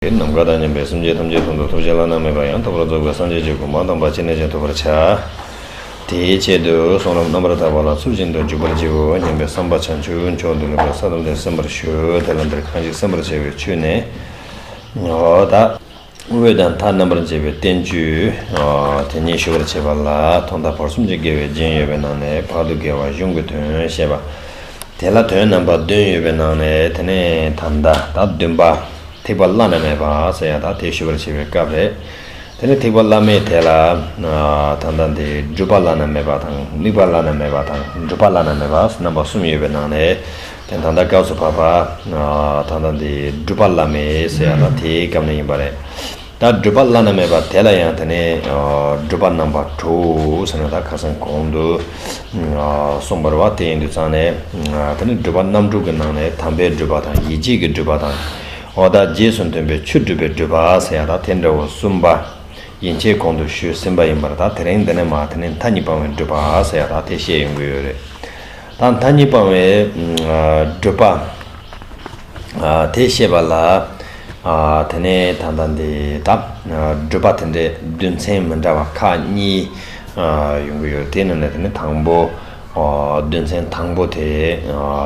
དེ་ནམ་མཁའ་དང་མཉམ་པའི་སེམས་ཅན་ཐམས་ཅད་དོན་དུ་ཐོབ་བྱ་བླ་ན་མེད་པ་ཡང་དག་པར་རྫོགས་པའི་སངས་རྒྱས་ཀྱི་སྐུ་མ་དམ་པ་ཅི་ནས་ཀྱང་ཐོབ་པར་བྱ། དེའི་ཆེད་དུ་གསུང་རབ་རྣམ་པར་དག་པ་ལ་ཚུལ་བཞིན་དུ་འཇུག་པར་བགྱིའོ་སྙམ་པའི་བསམ་པ་བྱང་ཆུབ་མཆོག་ཏུ་ལེགས་པའི་ས་ལམ་ལས་སེམས་པར་ཞུ། དེ་ལ་འདིར་གང་ཞིག་སེམས་པར་བྱ་བའི་ཆོས་ནི། འོད་དང་མཐའ་རྣམ་པར་འབྱེད་པའི་བསྟན་བཅོས་དེ་ཉིད་ཞུ་བར་བྱེད་པ་ལ་ཐོག་མཐའ་བར་གསུམ་གྱི་དགེ་བའི་རྒྱན་ཡོད་པའི་ནང་ནས་བར་དུ་དགེ་བ་གཞུང་གི་དོན་བཤད་པ། དེ་ལ་དོན་རྣམ་པ་བདུན་ཡོད་པའི་ནང་ནས་དེ་ནས་ད་ལྟ་བདུན་པ། ཐེག་པ་བླ་ན་མེད་པ་སོགས་ཡང་དག་ཐེག་ཞུ་བར་བྱེད་པའི་སྐབས་རེད། དེ་ནས་ཐེག་པ་བླ་མེད་དེ་ལ། ད་ལྟ་འདི་སྒྲུབ་པ་བླ་ན་མེད་པ་དང་དམིགས་པ་བླ་ན་མེད་པ་དང་སྒྲུབ་པ་བླ་ན་མེད་པ་སོགས་རྣམ་པ་གསུམ་ཡོད་པའི་ནང་ནས། དེ་ད་ལྟ་སྐབས་སུ་བབ་པ། ད་ལྟ་འདི་སྒྲུབ་པ་བླ་མེད་སོགས་ཡང་དག་དེའི་སྐབས་ནས་ཡིན་པ་རེད། ད་བགྲོད་པ་བླ་ན་མེད་པ་དེ་ལ་ཡང་དེ་ནས་བགྲོད་པ་རྣམ་པར་གྲོལ་ཟེར་ན་ད་ཁ་སང་གོང་དུ་གསུངས་པར་བ་དེ་ཡིན་དུ་ཙང་ནས་དེ་ནས་བགྲོད་པ་རྣམ་དྲུག་གི་ནང་ནས་དམ་པའི་བགྲོད་པ་དང་ཡིད་བྱེད་ཀྱི་བགྲོད་པ་དང་འོ་ད་རྗེས་སུ་མཐུན་པའི་ཆོས་སྒྲུབ་པའི་བགྲོད་པ་ཟེར་ཡང་ད་དེ་འདྲ་བོ་གསུམ་པ་ཡན་ཆད་གོང་དུ་ཞུས་ཟིན་པ་ཡིན་པར་ད་དེ་རིང་འདི་ནས་མ་དེ་ནས་མཐའ་གཉིས་སྤང་བའི་བགྲོད་པ་ཟེར་ཡང་ད་དེ་བཤད་ཡོང་གི་ཡོད་རེད། དང་མཐའ་གཉིས་སྤང་བའི་བགྲོད་པ། དེ་ཤེས་པ་ལ་དེ་ནས་ད་ལྟ་འདི་དག་བགྲོད་པ་དེ་འདྲའི་བསྡུས་ཚན་མི་འདྲ་བ་ཁག་གཉིས་ཡོང་གི་ཡོད་དེ་རྣམས་ལས་དེ་ནི་དང་པོ་བསྡུས་ཚན་དང་པོ་དེ་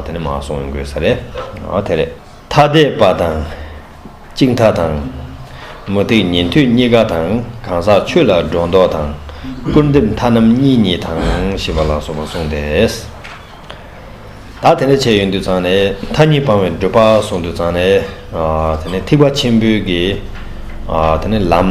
དེ་ནི་མ་གསུངས་དགོས་ས་རེད་དེ་རེད། ཐ་དད་པ་དང། གཅིག་མཐའ་དང། མུ་སྟེགས་ཉན་ཐོས་གཉིས་ཀ་དང་གང་ཟག་ཆོས་ལ་སྒྲོ་འདོགས་དང། སྐུར་འདེབས་མཐའ་རྣམ་གཉིས་གཉིས་དང་ཞེས་པ་ལ་སོགས་པ་གསུངས་ཏེ། ད་དེ་འདྲ་བྱས་ཡོད་འདུག་ཚང་ནས་མཐའ་གཉིས་སྤང་བའི་སྒྲུབ་པ་གསུངས་འདུག་ཚང་ནས། ད་ནི་ཐིགས་པ་ཆེན་པོའི་གི། ད་ནི་ལམ།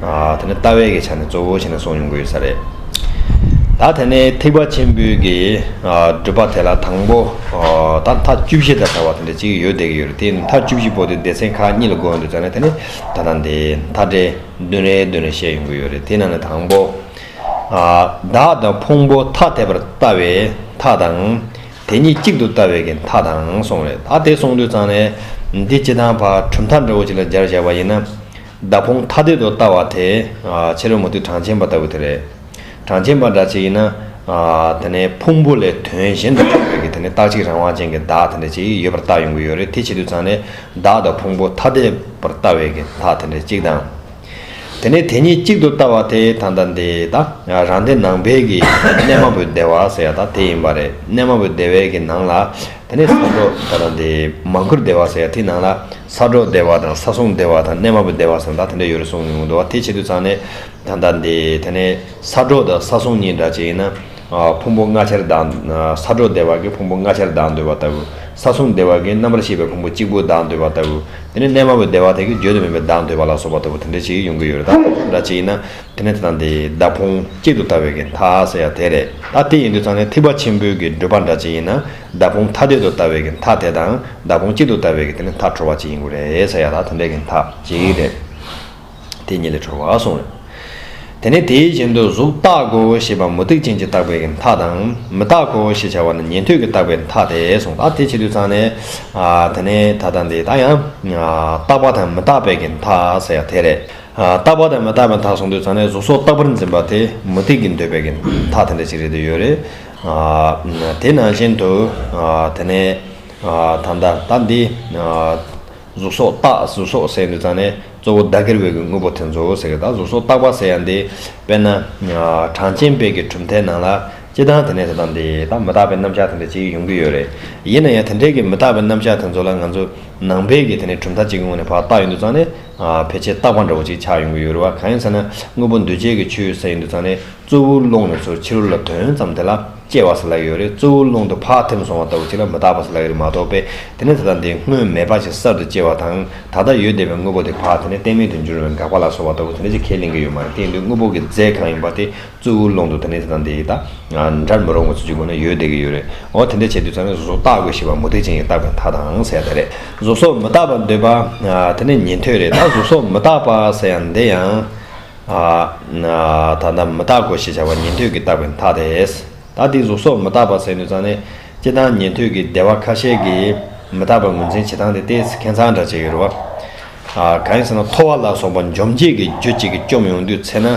དེ་ནི་ལྟ་བའི་གི་ཆ་ནས་གཙོ་བོ་བྱས་ནས་སོང་ཡོང་གི་ཡོད་ས་རེད། ད་དེ་ནས་ཐེག་པ་ཆེན་པོའི་གི་སྒྲུབ་པ་དེ་ལ་དང་པོ་ད་མཐའ་བཅུ་བཞི་ད་བྱ་བ་དེ་འདྲ་གཅིག་ཡོད་བསྡད་ཀྱི་ཡོད་རེད་དེ་མཐའ་བཅུ་བཞི་པོ་དེ་སྡེ་ཚན་ཁག་གཉིས་ལ་བགོས་ཡོང་འདུག་ད་ནི་དེ་ནི་ད་ལྟ་འདི་མཐའ་བྲལ་བདུན་རེའི་མདུན་ལས་བཤད་ཡོང་གི་ཡོད་རེད་དེ་ནང་ནས་དང་པོ། བདག་དང་ཕུང་པོ་ཐ་དད་པར་ལྟ་བའི་མཐའ་དང། དེ་གཉིས་གཅིག་ཏུ་ལྟ་བའི་གི་མཐའ་དང་སོང་རེད་ད་དེ་སོང་དུས་ཚང་ནས་འདི་སྤྱི་དང་བར་གྲུབ་མཐའ་འདྲ་བོ་ཅིག་ལ་སྦྱར་བཞག་པ་ཡིན་ན། བདག་ཕུང་ཐ་དད་དུ་བལྟ་བ་དེ། ཕྱི་རོལ་མུ་ཏིག་གྲངས་ཆེན་པ་ལྟ་བུ་དེ་རེད། གྲངས་ཆེན་པ་འདྲ་ཅིག་ཡིན་ན། དེ་ནི་ཕུང་པོ་ལས་དོན་གཞན་དུ་འཁྲུལ་བའི་དེ་ནི་རྟག་གཅིག་རང་དབང་ཅན་གྱི་བདག་དེ་འདྲ་ཅིག་ཡོད་པར་བལྟ་ཡོང་གི་ཡོད་རེད་དེ་བྱེད་དུས་ཚང་ནི་བདག་དང་ཕུང་པོ་ཐ་དད་པར་བལྟ་བའི་གི་དག་དེ་འདྲ་ཅིག་དང། དེ་ནི་དེ་གཉིས་གཅིག་ཏུ་བལྟ་བ་དེ་ད་ལྟ་འདི་དང་རང་སྡེ་ནང་པའི་གི་གནས་མ་བུའི་བདེ་བ་ཟེར་ཡ་དག་དེ་ཡིན་པ་རེད་གནས་མ་བུའི་བདེ་བའི་གི་ནང་ལ་དེ་ནི་ས་འགྲོ་ད་ལྟ་འདི་མ་མགུར་བདེ་བ་ཟེར་ཡ་དེའི་ནང་ལ། ས་སྒྲོག་སྡེ་བ་དང་ས་སྲུང་སྡེ་བ་དང་གནས་མ་བུ་སྡེ་བ་སོགས་ད་དེ་འདྲ་ཡོད་རེད་གསུངས་མྱོང་འདུག་དེ་བྱེད་དུས་ཚང་ནས་ད་ལྟ་འདི་ད་ནས་ས་སྒྲོག་དང་ས་སྲུང་གཉིས་འདྲ་བྱས་ཡིན་ན་ཕུང་པོ་ལྔ་ཆར་གདགས་ས་སྒྲོག་སྡེ་བ་གིས་ཕུང་པོ་ལྔ་ཆར་གདགས་འདོད་པ་ལྟ་བུ་ས་སྲུང་སྡེ་བ་གིས་རྣམ་པར་ཤེས་པའི་ཕུང་པོ་གཅིག་པུ་གདགས་འདོད་པ་ལྟ་བུ་དེ་ནས་གནས་མ་བུ་སྡེ་བ་དེ་གིས་བརྗོད་དུ་མེད་པའི་གདགས་འདོད་པ་ལ་སོགས་པ་ལྟ་བུ་དེ་འདྲ་བྱེད་ཀྱི་ཡོང་གི་ཡོད་རེད་ད་ཕུང་པོ་འདྲ་བྱས་ཡིན་ན་དེ་ནས་ད་ལྟ་འདི་ད་ཕུང་གཅིག་ཏུ་ལྟ་བའི་གི་མཐའ་ཟེར་ཡག་དེ་རེད་ད་དེ་ཡིན་དུས་ཚང་ནས་ཐིགས་པ་ཆེན་པོའི་གི་བགྲོད་པ་འདྲ་བྱས་ཡིན་ན། མདའ་དཔུང་མཐའ་དད་དུ་ལྟ་བའི་གི་མཐའ་དད་དང། མདའ་དཔུང་གཅིག་ཏུ་ལྟ་བའི་གི་དེ་ནི་མཐའ་འཕྲོ་བ་གཅིག་ཡིན་དགོས་རེད་ཟེར་ཡ་ད་དེ་འདྲའི་གི་མཐའ་གཅིག་རེད། དེ་གཉིས་ལས་འཕྲོ་བ་གསུངས་རེད། དེ་ནས་དེའི་གཞན་དུ་གཟུགས་རྟག་གོ་ཞེས་པ་མུ་སྟེགས་ཅན་གྱིས་བཏགས་པའི་གི་མཐའ་དང། མི་རྟག་གོ་ཞེས་བྱ་བ་ནི་ཉན་ཐོས་ཀྱིས་བཏགས་པའི་མཐའ་དེ་གསུངས་ད་དེ་བྱེད་དུས་ཚང་ནས། དེ་ནས་ད་ལྟ་འདི་ད་ཡང། རྟག་པ་དང་མི་རྟག་པའི་གི་མཐའ་ཟེར་ཡ་དེ་རེད། རྟག་པ་དང་མི་རྟག་པའི་མཐའ་གསུངས་དུས་ཚང་ནས་གཟུགས་སོགས་རྟག་པར་འཛིན་པ་དེ་མུ་སྟེགས་ཀྱིས་འདོད་པའི་གི་མཐའ་དེ་འདྲ་ཅིག་རེད་འདོད་ཡོད་རེད། དེ་ནང་བཞིན་དུ་དེ་ནས་ད་ལྟ་ད་འདི། གཟུགས་སོགས་བརྟག་གཟུགས་སོགས་ཟེར་ཡང་འདི་ཙམ་ནས་གཙོ་བོ་བདག་གིར་བས་ཀྱི་དངོས་པོ་དེ་ཚོ་ཟེར་གི་ད་གཟུགས་སོགས་བརྟག་པ་ཟེར་ཡང་འདི་དཔེར་ན། གྲངས་ཅན་དཔེ་གྱི་གྲུབ་མཐའི་ནང་ལ་སྤྱི་དང་དེ་ནས་ད་ལྟ་འདི་ད་མི་རྟག་པའི་རྣམ་གཞག་དེ་འདྲ་གཅིག་ཡོང་གི་ཡོད་རེད། ཡིན་ན་ཡང་དེ་འདྲའི་གི་མི་རྟག་པའི་རྣམ་གཞག་དེ་ཚོ་ལ་ང་ཚོ་ནང་པའི་གི་དེ་ནས་གྲུབ་མཐའ་གཅིག་གི་ངོས་ནས་བར་བཏགས་ཡོད་འདུག་ཙང་ནས་ཕལ་ཆེར་རྟག་པ་འདྲ་བོ་གཅིག་ཆགས་ཡོང་གི་ཡོད་རེད་བ་གང་ཡིན་ཟེར་ན་དངོས་པོ་འདུས་བྱས་ཀྱི་ཆོས་ཟེར་ཡོད་འདུག་ཙང་ནས། གཙོ་བོའི་རླུང་ལ་ཚུར་ཕྱི་རོལ་ལ་དོན་ཙམ་དེ་ལ་སྐྱེ་བ་སུ་ལ་ཡོད་རེ་གཙོ་བོའི་རླུང་དུ་བག་ཐེམས་སོང་བ་ལྟ་བུ་གཅིག་ལ་མི་རྟག་པ་སུ་ལ་ཡོད་རེ་མ་རྟོགས་པས་དེ་ནི་ད་ལྟ་འདི་སྔོན་མེད་པ་ཅིག་གསར་དུ་སྐྱེ་བ་དང་ད་ལྟ་ཡོད་བདེ་བའི་དངོས་པོ་དེ་བག་དེ་ནི་གཏན་མེད་དུ་འགྱུར་བའི་འགག་པ་ལ་སོགས་པ་ལྟ་བུ་དེ་འདྲ་ཅིག་ཁས་ལེན་གྱི་ཡོད་མ་རེད་དེ་ཡིན་དུས་དངོས་པོ་གི་རྫས་གང་ཡིན་པ་དེ་གཙོ་བོའི་རླུང་དུ་དེ་ནི་ད་ལྟ་འདི་དང་འདྲར་མི་རུང་བ་ཚུར་ཅིག་ཁོ་ན་ཡོད་བདེ་གི་ཡོད་རེད་འོ་དེ་འདྲ་བྱེད་དུས་ཚང་མས་བཟོ་བཏགས་དགོས་ཞེས་པ་མུ་སྟེགས་ཅན་གྱི་བཏགས་པའི་མཐའ་དང་ཟེར་ཡ་ད་རེད་བཟོ་སོགས་མི་རྟག་པར་འདོད་པ་དེ་ནི་ཉན་ཐོས་རེད་ད་བཟོ་སོགས་མི་རྟག་པ་ཟེར་ཡང་འདི་ཡང་ད་ལྟ་མི་རྟག་གོ་ཞེས་བྱ་བ་ཉན་ཐོས་ཀྱི་རྟག་པའི་མཐའ་དེས། ད་དེའི་གཟུགས་སོགས་མི་རྟག་པ་ཟད་ནུས་ཙམ་ནི། ཅི་སྟང་ཉན་ཐོས་ཀྱི་སྡེ་བ་ཁ་ཤས་ཀྱིས། མི་རྟག་པའི་ངོས་འཛིན་བྱེད་སྟངས་དེ་སྟེ་མཁས་མཛངས་འདྲ་བྱས་ཡོད་རེད་བ། གང་ཡིན་ཟེར་ན་ཐོ་བ་ལ་སོགས་པ་འཇོམས་བྱེད་ཀྱི་རྒྱུ་གཅིག་གིས་བཅོམ་ཡོང་དུས་ཚེ་ན།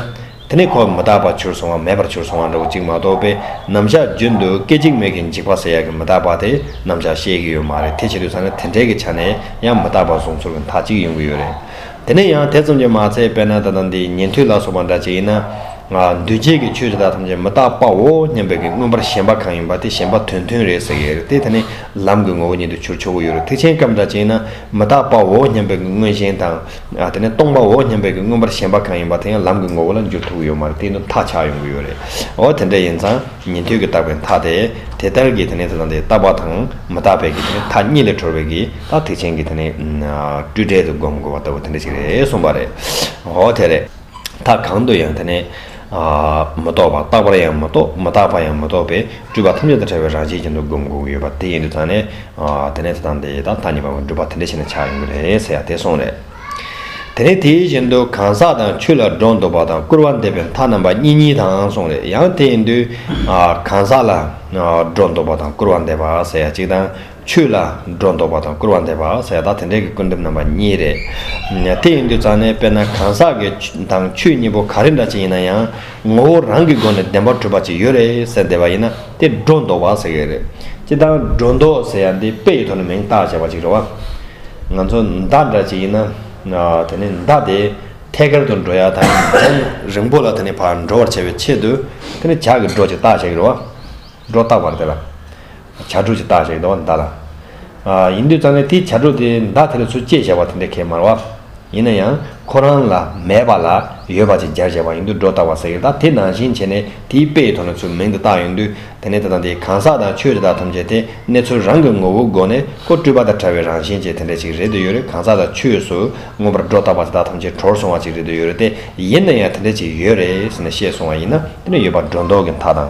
དེ་ནི་ཁོ་མི་རྟག་པར་གྱུར་སོང་བ་མེད་པར་གྱུར་སོང་བ་འདྲ་བོ་གཅིག་མ་གཏོགས་པའི་རྣམ་གཞག་རྒྱུན་དུ་སྐད་ཅིག་མིག་གིས་འཇིག་པ་ཟེར་ཡག་གི་མི་རྟག་པ་དེ་རྣམ་གཞག་བཤད་ཀྱི་ཡོད་མ་རེད་དེ་བྱེད་དུས་ཚང་ནི་དེ་འདྲས་ཀྱི་ཆ་ནས་ཡང་མི་རྟག་པ་གཟུགས་ཚོར་གྱི་མཐའ་གཅིག་ཡོང་གི་ཡོད་རེད། དེ་ནས་ཡང་དེ་ཙམ་གྱིས་མ་ཚད་པས་ན་ད་ལྟ་འདི་ཉན་ཐོས་ལ་སོགས་པ་འདྲ་ཅི་ཡིན་ན། འདུས་བྱས་ཀྱི་ཆོས་དེ་དག་ཐམས་ཅད་མི་རྟག་པའོ་སྙམ་པའི་གིས་མངོན་པར་ཞེན་པ་གང་ཡིན་པ་དེ་ཞེན་པ་དོན་མཐུན་རེད་ཟེར་ཡས་རེད་དེ་དེ་ནི་ལམ་གྱི་ངོ་བོ་ཉིད་དུ་ཆུར་ཆོ་གུ་ཡོད་རེད་ཐེག་ཆེན་སྐབས་འདྲ་ཅི་ཡིན་ན་མི་རྟག་པའོ་སྙམ་པའི་གིས་མངོན་ཞེན་དང། དེ་ནི་སྟོང་པའོ་སྙམ་པའི་གིས་མངོན་པར་ཞེན་པ་གང་ཡིན་པ་དེ་ཡང་ལམ་གྱི་ངོ་བོ་ལ་འགྱུར་ཐུག་གི་ཡོད་མ་རེད་དེ་ནུབ་ཐག་ཆགས་ཡོང་གི་ཡོད་རེད་འོ་དེ་འདྲ་ཡིན་ཙང་ཉན་ཐོས་ཀྱི་རྟག་པའི་མཐའ་དེ་དེ་ལྟར་གྱིས་དེ་ནི་དེ་དང་དེ་རྟག་པ་དང་མི་རྟག་པའི་གིས་དེ་ནི་མཐའ་གཉིས་ལས་གྲོལ་བའི་གིས། ད་ཐེག་ཆེན་གྱི་དེ་ནི། སྤྲོས་བྲལ་དུ་བསྒོམ་དགོས་པ་ལྟ་བུ་དེ་འདྲ་ཞིག་རེད་གསུངས་པ་རེད། འོ་དེ་རེད། ད་གང་དུ་ཡང་དེ་ནི། མི་རྟོག་པ་རྟག་པར་ཡང་མི་རྟོག་མི་རྟག་པར་ཡང་མི་རྟོག་པའི་སྤྲོས་པ་ཐམས་ཅད་དང་བྲལ་བའི་རང་བཞིན་ཅན་དུ་བསྒོམ་དགོས་ཀྱི་ཡོད་པ་དེ་ཡིན་དུ་ད་ནི། དེ་ནི་དེ་དང་དེ་དང་ད་གཉིས་པ་བ་སྒྲུབ་པ་དེ་འདྲ་ཞིག་ན་ཆགས་ཡོང་གི་རེད་ཟེར་ཡ་དེ་སོང་རེད། དེ་ནི་དེའི་བཞིན་དུ་གང་ཟག་དང་ཆོས་ལ་སྒྲོ་འདོགས་པ་དང་སྐུར་བ་འདེབས་པའི་མཐའ་རྣམ་པ་གཉིས་གཉིས་དང་སོང་རེད་ཡང་དེ་ཡིན་དུས། གང་ཟག་ལ། སྒྲོ་འདོགས་པ་དང་སྐུར་བ་འདེབས་པ་ཟེར་ཡ་གཅིག་དང། ཆོས་ལ་སྒྲོ་འདོགས་པ་དང་སྐུར་བ་འདེབས་པ་ཟས་དག་དེ་འདྲས་ཀྱི་སྐུར་འདེབས་རྣམ་པ་གཉིས་རེད། དེ་ཡིན་དུས་རྩ་ནས་དཔེར་ན་གང་ཟག་གི་དང་ཆོས་གཉིས་པོ་ག་རེ་འདྲ་ཅིག་ཡིན་ན་ཡང་ངོ་བོ་རང་གི་སྒོ་ནས་བདེན་པར་གྲུབ་པ་ཅིག་ཡོད་རེད་ཟེར་བསྡད་པ་ཡིན་ན་དེ་སྒྲོ་འདོགས་པ་ཟེར་གི་རེད། སྤྱིར་བཏང་སྒྲོ་འདོགས་ཟེར་ཡ་འདི་དཔེ་ཡི་ཐོག་ནས་མིང་བཏགས་བྱས་པ་ཅིག་རེད་བ། ང་ཚོ་མདའ་འདྲ་ཅིག་ཡིན་ན་དེ་ནི་མདའ་དེ་ཐད་ཀར་དུ་འགྲོ་ཡ་དང་ཡང་རིང་པོ་ལ་དེ་ནི་བར་འགྲོ་བར་བྱ་བའི་ཆེད་དུ་དེ་ནི་ཇག་གི་སྒྲོ་ཅིག་བཏགས་བྱས་གི་རེད་བ། སྒྲོ་བཏགས་པར་དེ་ལ། བྱ་དྲུག་ཅེས་བཏགས་ཞེས་བཟླ་བ་འདི་བཟླ་ལ། ཡིན་དུས་ཙམ་ལས་དེའི་བྱ་དྲུག་དེ་བདག་དེ་ལ་ཚུལ་བཅས་བྱ་བ་དེ་འདྲ་ཁས་མ་ར། ཡིན་ན་ཡང་ཁོ་རང་ལ་མེད་པ་ལ་ཡོད་པ་ཅིག་སྦྱར་བྱས་པ་ཡིན་དུས་སྒྲོ་བཏགས་པ་ཟེར་གྱི་ད་དེ་ནང་བཞིན་བྱས་ནས་དེའི་དཔེ་ཡི་ཐོག་ནས་ཚུལ་མིང་དེ་བཏགས་ཡོང་དུས་དེ་ནས་དེ་དང་དེའི་གང་ཟག་དང་ཆོས་དེ་དག་ཐམས་ཅད་དེ་གནས་ཚུལ་རང་གི་ངོ་བོའི་སྒོ་ནས་ཀོ་བཀྲུས་པ་དང་ཕྲ་བའི་རང་བཞིན་ཅན་དེ་འདྲ་ཅིག་རེད་དུ་ཡོད་རེད་གང་ཟག་དང་ཆོས་སུ་མངོན་པར་སྒྲོ་བཏགས་པ་དེ་དག་ཐམས་ཅད་གྲོར་སོང་བ་ཅིག་རེད་དུ་ཡོད་རེད་དེ་ཡིན་ན་ཡང་དེ་འདྲ་ཅིག་ཡོད་རེད་ཟེར་ནས་བཤད་སོང་བ་ཡིན་ན་དེ་འདྲ་ཡོད་པ་སྒྲོ་འདོགས་ཀྱི་མཐའ་དང།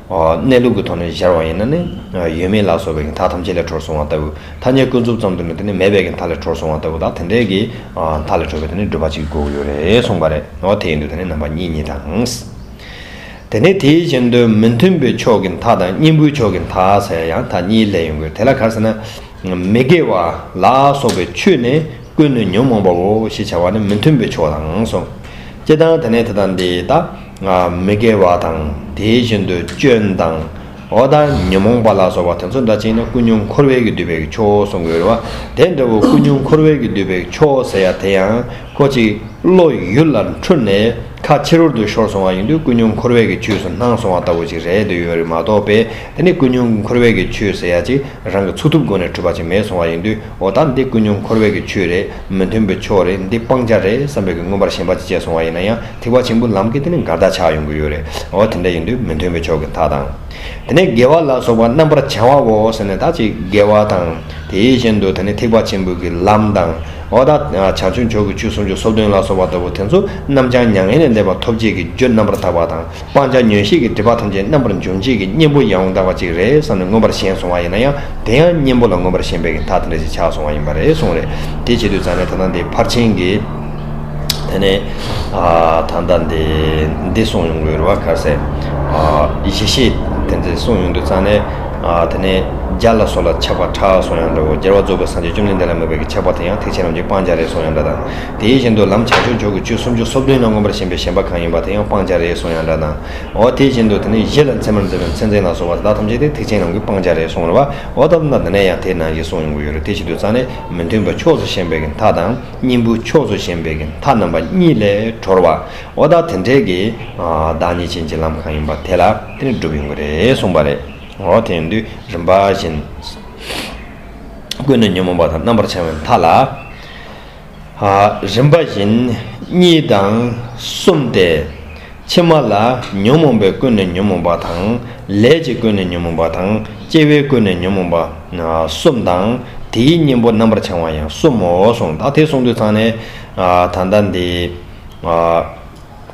གནས་ལུགས་ཀྱི་ཐོག་ནས་གཞར་བ་ཡིན་ན་ནི། ཡོད་མེད་ལ་སོགས་པའི་མཐའ་ཐམས་ཅད་ལས་གྲོལ་སོང་བ་ལྟ་བུ། ཐ་སྙད་ཀུན་རྫོབ་ཙམ་དུ་ནི་དེ་ནི་མེད་པའི་མཐའ་ལས་གྲོལ་སོང་བ་ལྟ་བུ་དག་དེ་འདྲའི་གི། མཐའ་ལས་གྲོལ་བའི་དེ་ནི་སྒྲུབ་པ་གཅིག་དགོས་ཀྱི་ཡོད་རེད་གསུངས་པ་རེད། འོ་དེ་ཡིན་དུས་དེ་ནི་རྣམ་པ་གཉིས་གཉིས་དང། དེ་ནི་དེའི་ཕྱིར་མདོའི་མི་མཐུན་པའི་ཕྱོགས་ཀྱི་མཐའ་དང་སྙིང་པོའི་ཕྱོགས་ཀྱི་མཐའ་ཟེར་ཡང་མཐའ་གཉིས་ལས་ཡིན་དགོས་དེ་ལ་གར་ཟེར་ན། མི་དགེ་བ་ལ་སོགས་པའི་ཆོས་ནི་ཀུན་ནས་ཉོན་མོངས་པའོ་ཞེས་བྱ་བ་ནི་མི་མཐུན་པའི་ཕྱོགས་དང་གསུངས། སྐྱེ་དང་དེ་ནས་དེ་དང་དེ་དག། ང་མི་དགེ་བ་དང་དེའི་བཞིན་དུ་སྐྱོན་དང། འོ་ད་ཉོན་མོངས་པ་ལ་སོགས་པ་དེ་ཚོ་འདྲ་ཅིག་ན་ཀུན་སྙོམས་འཁོར་བས་ཀྱིས་བསྡུས་པའི་ཁྱོ་བོ་གསུང་གི་རུང་བ་དེ་འདྲ་བོ་ཀུན་སྙོམས་འཁོར་བས་ཀྱིས་བསྡུས་པའི་ཁྱོ་བོ་ཟེར་ཡ་དེ་ཡང་ཁོ་གཅིག་བློ་ཡུལ་ལ་འཁྲུལ་ནས་ཁ་ཕྱི་རོལ་དུ་ཤོར་སོང་བ་ཡིན་དུས་ཀུན་སྙོམས་འཁོར་བས་ཀྱིས་ཁྱོས་སུ་སྣང་སོང་བ་ལྟ་བུ་ཅིག་རེད་འདོད་ཡོད་རིགས་མ་གཏོགས་པས་དེ་ནི་ཀུན་སྙོམས་འཁོར་བས་ཀྱིས་ཁྱོས་ཟེར་ཡ་ཅིག་རང་གི་ཚུགས་ཐུབ་སྒོ་ནས་འཁྲུལ་པ་ཅིག་མེད་སོང་བ་ཡིན་དུས་འོ་ད་འདི་ཀུན་སྙོམས་འཁོར་བས་ཀྱིས་ཁྱོས་རེད། མི་མཐུན་པའི་ཕྱོགས་རེད་འདི་སྤང་བྱ་རེད་བསམ་པའི་གི་མངོན་པར་ཞེན་པ་ཅི་སྤྱད་སོང་བ་ཡིན་ན་ཡང་ཐེག་པ་ཆེན་པོའི་ལམ་གི་དེ་ནི་མགར་བདག་ཆགས་ཡོང་གི་ཡོད་རེད་འོ་དེ་འདྲ་ཡིན་དུས་མི་མཐུན་པའི་ཕྱོགས་གི་མཐའ་དང། དེ་ནས་དགེ་བ་ལ་སོགས་པ་རྣམ་པར་བྱང་བ་འོ་ཟེར་ནས་ད་ཅིག་དགེ་བ་དང། དེའི་བཞིན་དུ་དེ་ནི་ཐེག་པ་ཆེན་པོའི་གི་ལམ་དང། འོ་ད་བྱང་ཆུབ་མཆོག་གི་ཆོས་སུམ་ཅུ་སོ་བདུན་ལ་སོགས་པ་ལྟ་བུ་དེ་ཚོ་རྣམ་བྱང་མྱ་ངན་ལས་འདས་པ་ཐོབ་བྱེད་ཀྱི་རྒྱུ་རྣམ་པར་དག་པ་དང། སྤང་བྱ་ཉོན་ཤེས་ཀྱི་སྒྲིབ་པ་ཐམས་ཅད་རྣམ་པར་འཇོམས་བྱེད་ཀྱི་གཉེན་པོ་ཡང་དག་པ་ཅིག་རེད་བསམ་ནས་མངོན་པར་ཞེན་སོང་བ་ཡིན་ན་ཡང་དེ་ཡང་གཉེན་པོ་ལ་མངོན་པར་ཞེན་པའི་མཐའ་དེ་འདྲ་ཞིག་ཆགས་སོང་བ་ཡིན་པ་རེད་གསུངས་རེད་དེ་བྱེད་དུས་ཙང་ནས་ད་ལྟ་འདི་ཕར་ཕྱིན་གྱི། དེ་ནས་ད་ལྟ་འདི་འདི་གསུངས་ཡོང་གི་རུ་བ་ཁ་སེ། ཡེ་ཤེས་དེ་འདི་གསུངས་ཡོང་དུས་ཙང་ནས། དེ་ནས་རྒྱ་ལ་སོགས་ལ་ཆགས་པ་ཕྲ་སོང་ཡང་འདྲའོ་རྒྱལ་བ་རྫོགས་པའི་སངས་རྒྱས་བཅོམ་ལྡན་འདས་ལ་མོས་པའི་གི་ཆགས་པ་དེ་ཡང་ཐེག་ཆེན་རྣམས་ཀྱི་སྤང་བྱ་རེད་སོང་ཡང་འདྲ་དང། དེ་བཞིན་དུ་ལམ་བྱང་ཆུབ་མཆོག་གི་ཆོས་སུམ་ཅུ་སོ་བདུན་ན་མངོན་པར་ཞེན་པའི་ཞེན་པ་གང་ཡིན་པ་དེ་ཡང་སྤང་བྱ་རེད་གསུངས་ཡང་འདྲ་དང་འོ། དེ་བཞིན་དུ་དེ་ནས་གཞི་ལ་མཚན་མར་འཛིན་པའི་མཚན་འཛིན་ལ་སོགས་པ་དེ་དག་ཐམས་ཅད་དེ་ཐེག་ཆེན་ལམ་གྱི་སྤང་བྱ་རེད་གསུངས་པ་འོ། ད་ལྟ་ན་ཡང་དེ་ནང་བཞིན་གསུངས་ཡོང་གི་ཡོད་རེད་དེ་བཞིན་དུ་རྩ་ནས་མི་མཐུན་པ་ཕྱོགས་སུ་ཞེན་པའི་གྱི་མཐའ་དང་གཉེན་པོའི་ཕྱོགས་སུ་ཞེན་པའི་གྱི་མཐའ་རྣམ་པ་གཉིས་ལས་གྲོལ་བ་འོ། ད་དེ་འབྲེལ་གྱི་བདག་ཉིད་ཅན་གྱི་ལམ་གང་ཡིན་པ་དེ་ལ་དེ་ནས་བསྒྲུབ་ཡོང་གི་རེད་གསུངས་པ་རེད་འོ། དེ་ཡང་དུས་རིམ་པ་བཞིན་ཀུན་ནས་ཉོན་མོངས་པ་དང་རྣམ་པར་བྱང་བའི་མཐའ་ལ། རིམ་པ་བཞིན་གཉིས་དང་གསུམ་སྟེ། ཕྱི་མ་ལ་ཉོན་མོངས་པའི་ཀུན་ནས་ཉོན་མོངས་པ་དང། ལས་ཀྱི་ཀུན་ནས་ཉོན་མོངས་པ་དང་སྐྱེ་བའི་ཀུན་ནས་ཉོན་མོངས་པ་གསུམ་དང། དེའི་གཉེན་པོ་རྣམ་པར་བྱང་བ་ཡང་གསུམ་མོ་གསུངས། ད་དེ་གསུངས་དུས་ཚང་ནས། ད་ལྟ་འདི།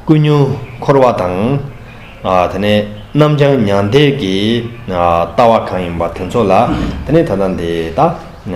ཀུན་ཉོན་འཁོར་བ་དང། དེ་ནས་རྣམ་བྱང་མྱང་འདས་ཀྱི་ལྟ་བ་གང་ཡིན་པ་དེ་ཚོ་ལ། དེ་ནས་ད་ལྟ་འདི་ལྟ།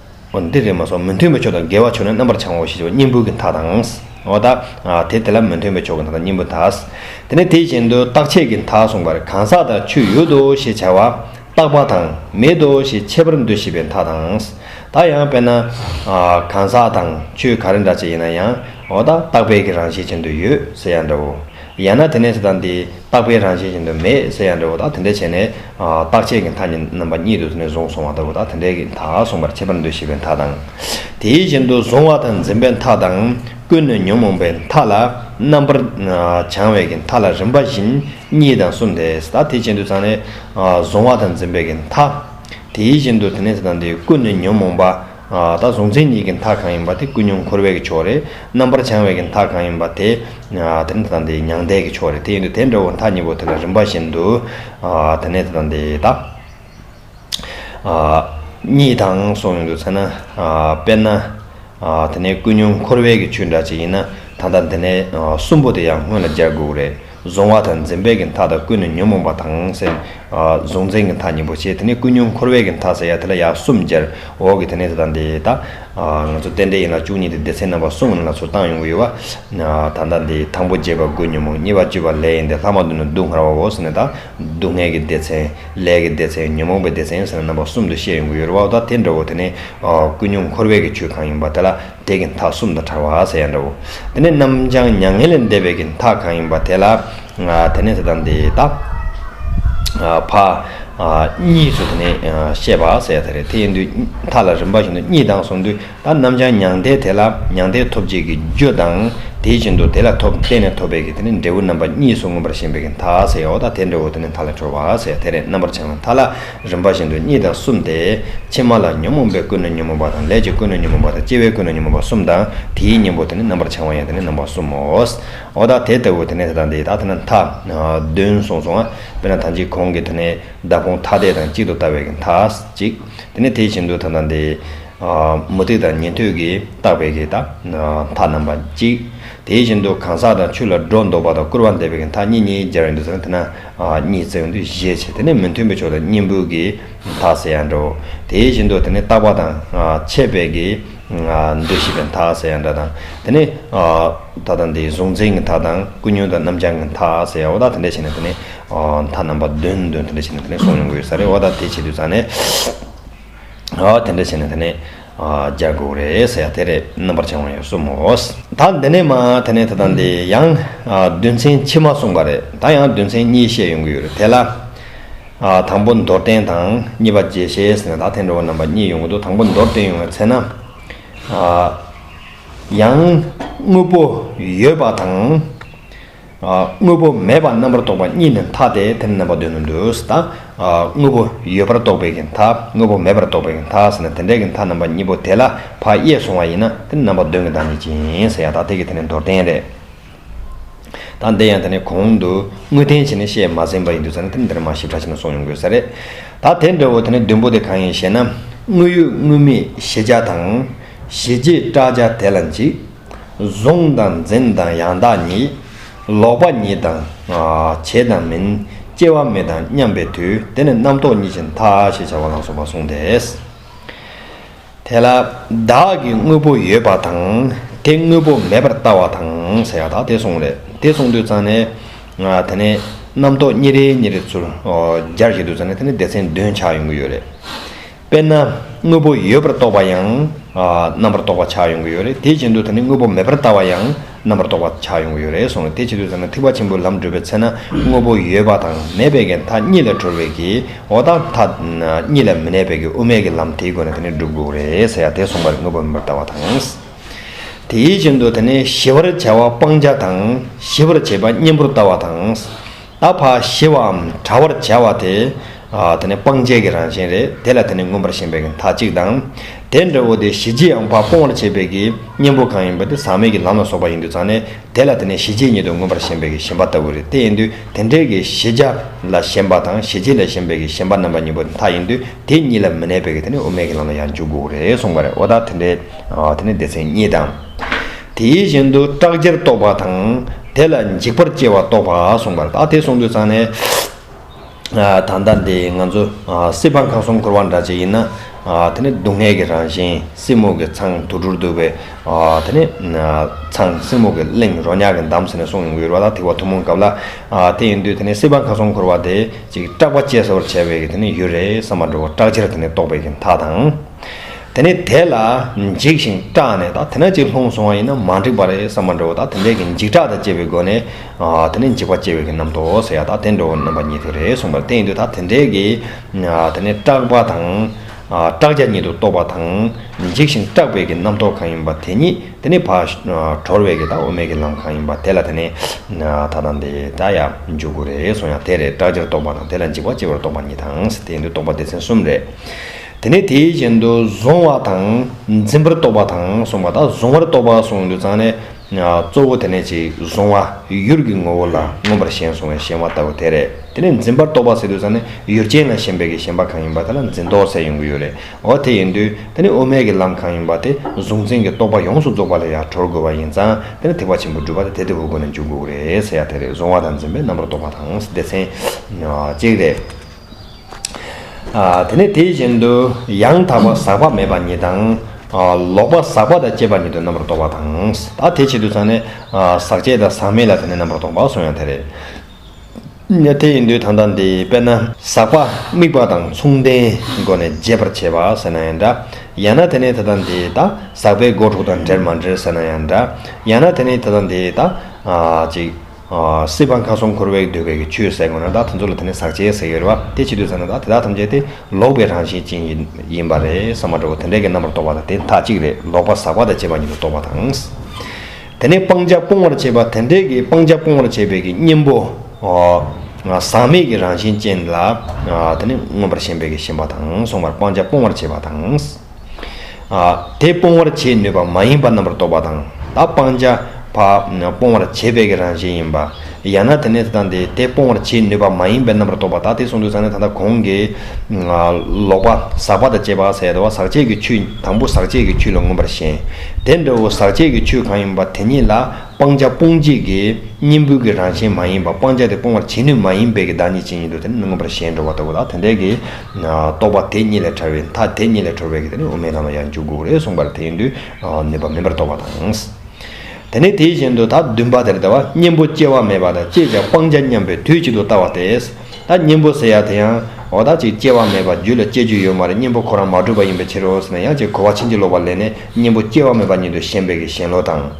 འདིར་རེ་མ་སོགས་མི་མཐུན་པའི་ཕྱོགས་དང་འགལ་བ་ཕྱོགས་ནི་རྣམ་པར་བྱང་བའོ་ཞེས་བྱ་བ་སྙིང་པོའི་གི་མཐའ་དང། འོ་ད་དེ་དེ་ལ་མི་མཐུན་པའི་ཕྱོགས་ཀྱི་མཐའ་དང་སྙིང་པོའི་མཐའ། དེ་ནས་དེ་བཞིན་དུ་རྟག་ཆད་ཀྱི་མཐའ་གསུངས་པར་གང་ཟག་དང་ཆོས་ཡོད་དོ་ཞེས་བྱ་བ་རྟག་པ་དང་མེད་དོ་ཞེས་འཆད་པར་འདོད་ཤེས་པའི་མཐའ་དང། ད་ཡང་དཔེར་ན། གང་ཟག་དང་ཆོས་ག་རེ་འདྲ་བྱེད་ཡིན་ན་ཡང་འོ་ད་རྟག་པའི་གི་རང་བཞིན་ཅན་དུ་ཡོད་ཟེར་ཡང་འདྲའོ། ཡང་ན་དེ་ནས་དེ་དང་དེའི་རྟག་པའི་རང་བཞིན་བཞིན་དུ་མེད་ཟེར་ཡང་འགྲེལ་བ་དག་དེ་འདྲ་བྱས་ནས། རྟག་ཆད་ཀྱི་མཐའ་གཉིས་རྣམ་པ་གཉིས་དུ་དེ་ནས་བཟུང་བཟུང་བ་ལྟ་བུ་དག་དེ་འདྲའི་མཐའ་གསུངས་པར་ཁྱད་པར་འདུ་ཤེས་པའི་མཐའ་དང། དེའི་བཞིན་དུ་གཟུང་བ་དང་འཛིན་པའི་མཐའ་དང། ཀུན་ནས་ཉོན་མོངས་པའི་མཐའ་ལ་རྣམ་པར་བྱང་བའི་ཀྱི་མཐའ་ལ་རིམ་པ་བཞིན་གཉིས་དང་གསུམ་དེས་དག་དེ་ཅན་དུ་ཚང་ནས། གཟུང་བ་དང་འཛིན་པའི་ཀྱི་མཐའ། དེའི་བཞིན་དུ་དེ་ནས་དེ་དང་དེའི་ཀུན་ནས་ཉོན་མོངས་པ། ད་གཟུང་མཚན་ཉིད་ཀྱི་མཐའ་གང་ཡིན་པ་དེ་ཀུན་སྙོམས་འཁོར་བས་ཀྱི་ཕྱོགས་རེད། རྣམ་པར་བྱང་བས་ཀྱི་མཐའ་གང་ཡིན་པ་དེ། དེ་ནི་དེ་དང་དེའི་མྱང་འདས་ཀྱི་ཕྱོགས་རེད་དེ་ཡིན་དུ་དེ་འདྲ་བོ་མཐའ་གཉིས་པོ་དེ་ལ་རིམ་པ་བཞིན་དུ། དེ་ནས་དེ་དང་དེ་དག། གཉིས་དང་སོགས་ཡིན་དུ་མཚན་ན། དཔེར་ན། དེ་ནས་ཀུན་སྙོམས་འཁོར་བས་ཀྱི་ཆོས་འདྲ་ཅིག་ཡིན་ན། ད་ལྟ་འདི་ནས་གསུམ་པོ་དེ་ཡང་སྔོན་ལ་སྦྱར་དགོས་རེད། གཟུང་བ་དང་འཛིན་པའི་གི་མཐའ་དང་ཀུན་ནས་ཉོན་མོངས་པ་དང་སེམས། གཟུང་འཛིན་གི་མཐའ་གཉིས་པོ་བྱེད་དེ་ནས་ཀུན་ཉོན་འཁོར་བའི་གི་མཐའ་ཟེར་ཡ་དེ་ལ་ཡང་གསུམ་སྦྱར། འོག་གི་དེ་ནས་དེ་དང་དེ་དག། ང་ཚོ་རྟེན་འབྲེལ་ཡན་ལག་བཅུ་གཉིས་ཏེ་སྡེ་ཚན་རྣམ་པ་གསུམ་ཡན་ལག་ཚོ་བཏང་ཡོང་གི་ཡོད་བ། ད་ལྟ་འདི་དང་པོ་བརྒྱད་པ་དགུ་ཉོན་མོངས་གཉིས་པ་བཅུ་བ་ལས་ཡིན་ཏེ་ལྷག་མ་དུ་ནི་སྡུག་བསྔལ་བའོ་ཟེར་ནས་དང། སྡུག་བསྔལ་གི་སྡེ་ཚན། ལས་ཀྱི་སྡེ་ཚན་ཉོན་མོངས་པའི་སྡེ་ཚན་ཟེར་ནས་རྣམ་པ་གསུམ་དུ་བཤད་ཡོང་གི་ཡོད་རེད་བ། འོ་ད་དེ་འདྲ་བོ་དེ་ནས། ཀུན་ཉོན་འཁོར་བའི་གི་ཆོས་གང་ཡིན་པ་དེ་ལ། དེ་གི་མཐའ་གསུམ་དང་བྲལ་བ་ཟེར་ཡང་འདྲའོ། དེ་ནས་རྣམ་བྱང་མྱ་ངན་ལས་འདས་པའི་གི་མཐའ་གང་ཡིན་པ་དེ་ལ། དེ་ནས་དེ་དང་དེ་དག། བ། གཉིས་སུ་དེ་ནས་བཤད་པ་ཟེར་ཡང་ད་རེ་དེ་ཡིན་དུས་མཐའ་ལ་རིམ་པ་བཞིན་དུ་གཉིས་དང་གསུམ་དུ་ད་རྣམ་བྱང་མྱང་འདས་དེ་ལ་མྱང་འདས་ཐོབ་བྱེད་ཀྱི་རྒྱུ་དང་དེ་བཞིན་དུ་དེ་ལ་ཐོབ་བརྟེན་ནས་ཐོབ་པའི་གི་དེ་ནས་འབྲས་བུ་རྣམ་པ་གཉིས་སུ་མངོན་པར་ཞེན་པའི་གི་མཐའ་ཟེར་ཡའོ་ད་དེ་འདྲའོ་དེ་ནས་མཐའ་ལ་གྲོལ་བ་ཟེར་ཡང་དེ་རེ་རྣམ་པར་བྱང་བའི་མཐའ་ལ། རིམ་པ་བཞིན་དུ་གཉིས་དང་གསུམ་སྟེ། ཕྱི་མ་ལ་ཉོན་མོངས་པའི་ཀུན་ནས་ཉོན་མོངས་པ་དང་ལས་ཀྱི་ཀུན་ནས་ཉོན་མོངས་པ་དང་སྐྱེ་བའི་ཀུན་ནས་ཉོན་མོངས་པ་གསུམ་དང་དེའི་གཉེན་པོ་དེ་ནི་རྣམ་པར་བྱང་བ་ཡང་དེ་ནི་རྣམ་པ་གསུམ་མོ། འོ་ད་དེ་ལྟ་བུ་དེ་ནས་དེ་དང་དེའི་དག་དེ་ན་མཐའ། བདུན་གསུངས་སོ། དཔེར་ན་ཐང་ཅིག་གོང་གི་དེ་ནས་བདག་ཕུང་ཐ་དད་དང་གཅིག་ཏུ་ལྟ་བའི་གི་མཐའ། ཅིག། དེ་ནས་དེ་བཞིན་དུ་ད་དང་དེའི། མུ་སྟེགས་དང་ཉན་ཐོས་ཀྱིས་བརྟགས་པའི་གི་དག། མཐའ་རྣམ་པ་གཅིག། དེ་བཞིན་དུ་གང་ཟག་དང་ཆུ་ལ་སྒྲོ་འདོགས་པ་དང་སྐུར་བ་འདེབས་པའི་གི་མཐའ་གཉིས་གཉིས་སྦྱར་བའི་འདུ་ཚད་ནི་དེ་ན། གཉིས་བརྩེགས་འདུས་ཞེས་བྱ་སྟེ་ནི་མི་མཐུན་པའི་ཕྱོགས་དང་གཉིས་འབུལ་གྱི་མཐའ་ཟེར་ཡང་འདྲའོ། དེ་བཞིན་དུ་དེ་ནི་རྟག་པ་དང་ཆད་སྦས་ཀྱི་འདུ་ཤེས་པའི་མཐའ་ཟེར་ཡང་འདྲ་དང། དེ་ནི་མཐའ་དང་དེའི་གཟུང་འཛིན་གྱི་མཐའ་དང་ཀུན་ཉོན་དང་རྣམ་བྱང་གི་མཐའ་ཟེར་ཡང་འོ་ད་དེ་འདྲ་བྱས་ནས་དེ་ནི་མཐའ་རྣམ་པ་བདུན་བདུན་དེ་འདྲ་བྱས་ནས་དེ་ནི་གཟུང་ཡོང་གི་ཡོད་ས་རེད་འོ་ད་དེ་བྱེད་དུས་ཙང་ནས་དེ་འདྲ་བྱས་ནས་དེ་ནི། རྒྱག་དགོས་རེད་ཟེར་ཡ་དེ་རེད་རྣམ་པར་བྱང་བ་ཡང་གསུམ་མོ། ད་འདི་ནས་མ་དེ་ནས་དེ་དང་དེ་ཡང་བདུན་ཚན་ཕྱི་མ་གསུངས་པ་རེད་ད་ཡང་བདུན་ཚན་གཉིས་བཤད་ཡོང་གི་ཡོད་རེད་དེ་ལ། དང་པོ་མདོར་བསྟན་དང་གཉིས་པ་རྗེས་ཤེས་ནས་ད་ཐེངས་འགྲོ་བ་རྣམ་པ་གཉིས་ཡོང་གི་འདུག་དང་པོ་མདོར་བསྟན་ཡོང་བའི་ཚེ་ན། ཡང་དངོས་པོ་ཡོད་པ་དང། དངོས་པོ་མེད་པར་རྣམ་པར་རྟོག་པ་གཉིས་ནི་མཐའ་སྟེ་དེ་ནི་རྣམ་པ་དོན་དུ་འདོད་དོ། དངོས་པོ་ཡོད་པར་རྟོག་པའི་གི་མཐའ་དངོས་པོ་མེད་པར་རྟོག་པའི་གི་མཐའ་ཟེར་ན་དེ་འདྲའི་གི་མཐའ་རྣམ་པ་གཉིས་པོ་དེ་ལ་བག་ཡས་བཟུང་བ་ཡིན་ན་དེ་ནི་རྣམ་པ་དོན་གྱི་བདག་ཉིད་ཅན་ཡིན་ཟེར་ཡང་དག་ཐེག་གི་དེ་ནི་མདོར་བསྟན་རེད། དང་འདི་ཡང་དེ་ནི་གོང་དུ་དངོས་བསྟན་བྱས་ནས་བཤད་མ་ཟིན་པ་ཡིན་དུ་ཟེར་ན་དེ་ནི་འདིར་མ་ཞིབ་ཕྲ་བྱས་ན་སོགས་ཡོང་དགོས་ས་རེད། ད་དེ་འདྲ་བོ་དེ་ནི་བདུན་པོ་དེ་གང་ཡིན་ཞེ་ན། དངོས་ཡོད་དངོས་མེད་ཤེས་བྱ་དང། ཤེས་བྱའི་བཀྲག་བྱ་དེ་ལ་འཇིག། བཟུང་དང་འཛིན་དང་ཡང་དག་ཉིད། ལོག་པ་ཉིད་དང། བྱེད་དང་མིན། སྐྱེ་བ་མེད་དང་མཉམ་པའི་དུས་དེ་ནི་རྣམ་རྟོག་ཉིད་ཀྱི་མཐའ་ཞེས་བྱ་བ་ལ་སོགས་པ་གསུངས་ཏེ། དེ་ལ་བདག་གི་དངོས་པོ་ཡོད་པ་དང་དེ་དངོས་པོ་མེད་པར་ལྟ་བ་དང་ཟེར་བ་དག་དེ་གསུངས་ལས་དེ་གསུངས་དུས་ཙང་ནས། དེ་ནས་རྣམ་རྟོག་ཉིན་རེ་ཉིན་རེ་ཚུར་རྒྱར་བྱེད་དུས་ཙང་ནས་དེ་ནི་སྡེ་ཚན་བདུན་ཆགས་ཡོང་གི་ཡོད་རེད། དཔེར་ན་དངོས་པོ་ཡོད་པར་རྟོགས་པ་ཡང་རྣམ་པར་རྟོག་པ་ཆགས་ཡོང་གི་ཡོད་རེད་དེའི་ཆེད་དུ་ད་ནི་དངོས་པོ་མེད་པར་ལྟ་བ་ཡང་རྣམ་པར་རྟོག་པ་ཆགས་ཡོང་གི་ཡོད་རེད་སོང་དེའི་ཆེད་དུ་ད་ནི་ཐེག་པ་ཆེན་པོའི་ལམ་བགྲོད་པའི་ཚེ་ན་དངོས་པོ་ཡོད་པ་དང་མེད་པའི་གན་དྷ་གཉིས་ལས་གྲོལ་བའི་གི་འོ་དང་མཐའ་གཉིས་ལས་མི་གནས་པའི་གི་དབུ་མེད་ཀྱི་ལམ་དེའི་སྒོ་ནས་ད་ནི་བསྒྲུབ་དགོས་རེད་ཟེར་ཡ་དེ་གསུངས་པ་རེད་དངོས་པོ་མེད་པར་ལྟ་བ་དང། དེའི་ཆེད་དུ་ད་ནི་ཞི་བར་བྱ་བ་སྤང་བྱ་དང་ཞི་བར་བྱེད་པ་གཉེན་པོར་ལྟ་བ་དང། ཨ་བྷ་ཞི་བའམ་དྲ་བར་བྱ་བ་དེ། དེ་ནི་སྤང་བྱེད་ཀྱི་རང་བཞིན་རེད། དེ་ལ་དེ་ནི་མངོན་པར་ཞེན་པའི་གྱི་མཐའ་གཅིག་དང། དེ་འདྲ་བོ་དེ་ཞི་བྱེད་ཨང་བྷ་སྤོང་བར་བྱེད་པའི་གྱི་གཉེན་པོ་གང་ཡིན་པ་དེ་ཟག་མེད་ཀྱི་ལམ་ལ་སོགས་པ་ཡིན་དུ་ཚང་ནས་དེ་ལ་དེ་ནི་ཞི་བྱེད་ཉིད་དུ་མངོན་པར་ཞེན་པའི་གྱི་ཞེན་པ་ལྟ་བུ་རེད་དེ་ཡིན་དུས་དེ་འདྲའི་གྱི་ཞི་བྱ་ལ་ཞེན་པ་དང་ཞི་བྱེད་ལ་ཞེན་པའི་གྱི་ཞེན་པ་རྣམ་པ་གཉིས་པོ་མཐའ་ཡིན་དུས་དེ་གཉིས་ལ་མི་གནས་པའི་གྱི་དེ་ནི་དབུ་མེད་ཀྱི་ལམ་ལ་ཡང་འཇུག་དགོས་རེད་གསུངས་པ་རེད་འོ་ད་དེ་འདྲའི་དེ་ཚེ་གཉིས་དང། དེ་བཞིན་དུ་སྐྲག་བྱེད་རྟོགས་པ་དང། དེ་ལ་འཇིགས་པར་སྐྱེ་བ་རྟོགས་པ་གསུངས་པར་ད་དེ་གསུངས་དུས་ཚང་ནས། ད་ལྟ་འདི་ང་ཚོ་སྲིད་པ་ཁང་གསུམ་འཁོར་བ་འདྲ་ཅིག་ཡིན་ན། དེ་ནི་སྡུག་བསྔལ་གྱི་རང་བཞིན་སྲིན་མོ་གི་ཚང་དུར་དུར་འདུག་པའི། དེ་ནི་ཚང་སྲིན་མོ་གི་གླིང་རོ་ཉག་གི་འདམ་ཟེར་ནས་གསུངས་ཡོད་པ་ལ་ཐིག་བ་ཐུན་མོང་གབ་ལ། དེ་ཡིན་དུས་དེ་ནི་སྲིད་པ་ཁང་གསུམ་འཁོར་བ་དེ་ཅིག་སྐྲག་པ་སྐྱེ་སོར་བྱས་པའི་དེ་ནི་ཡུལ་རེད་བསམ་པ་འགྲོ་བ་སྐྲག་བྱེད་དེ་ནི་རྟོགས་པའི་མཐའ་དང། དེ་ནས་དེ་ལ་འཇིགས་ཤིང་སྐྲག་ནས་དང་དེ་ན་ཅིག་ལྷུང་སོང་བ་ཡིན་ན་མ་འགྲིག་པ་རེད་བསམ་པ་འགྲོ་བ་དང་དེ་འདྲས་ཀྱི་འཇིགས་སྐྲག་དང་བཅས་པའི་སྒོ་ནས་དེ་ནི་འཇིགས་པ་སྐྱེ་བའི་རྣམ་རྟོག་ཟེར་ཡ་དང་དེ་འགྲོ་བའི་རྣམ་པ་ཉིད་དུ་རེད་གསུངས་པ་ལྟ་ཡིན་དུས་ད་དེ་འདྲས་ཀྱི་དེ་ནི་སྐྲག་པ་དང་སྐྲག་བྱ་ཉིད་དུ་རྟོག་པ་དང་འཇིགས་ཤིང་སྐྲག་པའི་ཀྱི་རྣམ་རྟོག་གང་ཡིན་པ་དེ་ཉིད་དེ་ནི་བག་གྲོར་བའི་ཀྱི་དང་དབུ་མའི་ཀྱི་ལམ་གང་ཡིན་པ་དེ་ལ་དེ་ནི་ད་དང་དེ་ད་ཡ་འཇུག་དགོས་རེད་གསུངས་ཡང་དེ་རེད་སྐྲག་བྱར་རྟོག་པ་དང་དེ་ལ་འཇིགས་པ་སྐྱེ་བར་རྟོག་པ་ཉིད་དང་དེ་ཡིན་དུས་རྟོག་པ་སྡེ་ཚན་གསུམ་རེད། དེ་ནས་དེའི་རྐྱེན་དུ་གཟུང་བ་དང་འཛིན་པར་རྟོག་པ་དང་གསུངས་པ་དག་གཟུང་བར་རྟོག་པ་གསུངས་འདུག་ཙང་ནས། གཙོ་བོ་དེ་ནས་ཅིག་གཟུང་བ་ཡུལ་གྱི་ངོ་བོ་ལ་མངོན་པར་ཞེན་གཟུང་བའི་ཞེན་བ་ལྟ་བུ་དེ་རེད། དེ་ནས་འཛིན་པར་རྟོག་པ་ཟེར་དུས་ཙང་ནས་ཡུལ་ཅན་ལ་ཞེན་པའི་ཀྱི་ཞེན་པ་གང་ཡིན་པ་དེ་ལ་འཛིན་རྟོག་ཚད་ཡོང་གི་ཡོད་རེད་འོ་དེ་ཡིན་དུས་དེ་ནས་དབུ་མེད་ཀྱི་ལམ་གང་ཡིན་པ་དེ་གཟུང་འཛིན་གྱི་རྟོག་པ་ཡོངས་སུ་རྫོགས་པ་ལས་ཡར་གྲོལ་དགོས་པ་ཡིན་ཙང་དེ་ནས་ཐེག་པ་ཆེན་པོ་སྒྲུབ་པ་དེ་དལ་དལ་བུ་བུ་ནས་འཇུག་དགོས་ཀྱི་རེད་ཟེར་ཡ་དེ་རེད་གཟུང་བ་དང་འཛིན་པའི་རྣམ་པར་རྟོག་པ་དང་སྡེ་ཚན། གཅིག་རེད། དེ་ནས་དེ་བཞིན་དུ་ཡང་དག་པར་ཟག་པ་མེད་པ་ཉིད་དང། ལོག་པར་ཟག་པ་དང་བཅས་པ་ཉིད་དུ་རྣམ་པར་རྟོག་པ་དང། ད་དེའི་ཆེད་དུ་ཚང་ནས་ཟག་བཅས་དང་ཟག་མེད་ལ་དེ་ནས་རྣམ་པར་རྟོག་པ་གསུངས་ཡང་དེ་རེད། ནས་དེ་ཡིན་དུས་ད་ལྟ་འདི་དཔེར་ན། ཟག་པ་དམིགས་པ་དང་མཚུངས་ལྡན་སྒོ་ནས་འབྱེད་པར་བྱེད་པ་ཟེར་ན་ཡང་འདྲ། ཡང་ན་དེ་ནི་ད་ལྟ་འདི་ད་ཟག་པའི་སྒོ་དྲུག་དང་འབྲེལ་མ་འབྲེལ་ཟེར་ན་ཡང་འདྲ། ཡང་ན་དེ་ནི་ད་ལྟ་འདི་ད། སྲིད་པ་མཐའ་གསུམ་འཁོར་བས་གདུལ་བའི་ཆོས་ཟད་དགོས་ན་དག་དེ་ཚོ་ལ་དེ་ནི་ཟག་བཅས་ཟེར་ཡོད་རེད་བ། དེ་ཇི་དུས་ཟ་ན་དག་དེ་དག་ཐམས་ཅད་དེ་ལོག་པའི་རང་བཞིན་ཅན་ཡིན་པ་རེད་ས་མ་འདྲ་བོ་དེ་འདྲས་ཀྱི་རྣམ་པར་རྟོག་པ་དང་དེ་དག་གཅིག་རེད་ལོག་པ་ཟག་པ་དང་བཅས་པ་ཉིད་དུ་རྟོག་པ་དང། དེ་ནི་སྤང་བྱ་སྤོང་བར་བྱེད་པ་དེ་འདྲས་ཀྱི་སྤང་བྱ་སྤོང་བར་བྱེད་པའི་ཀྱི་གཉེན་པོ། ཟག་མེད་ཀྱི་རང་བཞིན་ཅན་ལ་དེ་ནི་མངོན་པར་ཞེན་པའི་ཀྱི་ཞེན་པ་དང་མཚུངས་པར་སྤང་བྱ་སྤོང་བར་བྱེད་པ་དང། དེ་སྤོང་བར་བྱེད་ནུས་པ་མ་ཡིན་པ་རྣམ་པར་རྟོག་པ་དང། ད་སྤང་བྱ་བ་སྤོང་བར་བྱེད་པའི་རང་བཞིན་ཡིན་པ། ཡང་ན་དེ་ནས་དང་དེ་དེ་སྤོང་བར་བྱེད་ནུས་པ་མ་ཡིན་པའི་རྣམ་པར་རྟོག་པ་ད་དེ་གསུངས་འདུག་ཚང་ནས་ད་ལྟ་གོང་གི། ལོག་པ་ཟག་པ་དང་བཅས་པ་ཟད་དོ་ཟག་བཅས་ཀྱི་ཆོས་དང་པོ་ཟག་བཅས་ཀྱི་ཆོས་ལ་མངོན་པར་ཞེན། དེ་འདྲ་བོ་ཟག་བཅས་ཀྱི་ཆོས་གང་ཡིན་པ་དེ་ཉིད་ལ་སྤང་བྱ་སྤོང་བྱེད་ཀྱི་གཉེན་པོའི་ཀྱི་རང་བཞིན་མ་ཡིན་པ་སྤང་བྱ་དེ་སྤོང་བར་བྱེད་ནུས་མ་ཡིན་པའི་ཀྱི་བདག་ཉིད་ཅན་ཡིན་ཏོ་དེ་ནི་མངོན་པར་ཞེན་འགྲོ་བ་ལྟ་བུ་ལ་དེ་འདྲའི་ཀྱི། རྟོག་པ་དེ་ཉིད་ལས་ཕྲ་བའི་མཐའ་དེ་ཉིད་ལས་གྲོལ་བའི་གེགས་དེ་ནི་དབུ་མའི་ལམ་ལ་ཡང་འཇུག་དགོས་རེད་གསུངས་པར་དེ་ཡིན་དུས་ནུས་པ་མིན་པར་རྟོགས་པ་དང། དེ་ནས་དེ་བཞིན་དུ་ད་བདུན་པ་དེར་ལྟ་བ་གཉེན་པོ་སྐྱེ་བ་མེད་པ་དང་སྐྱེས་ཀྱང་སྤང་བྱ་མཉམ་པའི་དུས་གཅིག་ཏུ་ལྟ་བ་སྟེ། ད་གཉེན་པོ་ཟེར་ཡང་དེ་ཡང་འོ་ད་ཅིག་སྐྱེ་བ་མེད་པ་རྒྱུད་ལ་སྐྱེ་རྒྱུ་ཡོད་མ་རེད་གཉེན་པོ་ཁོ་རང་མ་གྲུབ་པ་ཡིན་པའི་ཕྱིར་རོ་ཟེར་ན་ཡང་ཅིག་གོ་བ་ཕྱིན་ཅི་ལོག་པར་ལེན་ནས་གཉེན་པོ་སྐྱེ་བ་མེད་པ་ཉིད་དུ་ཞེན་པའི་གཞན་བློ་དང།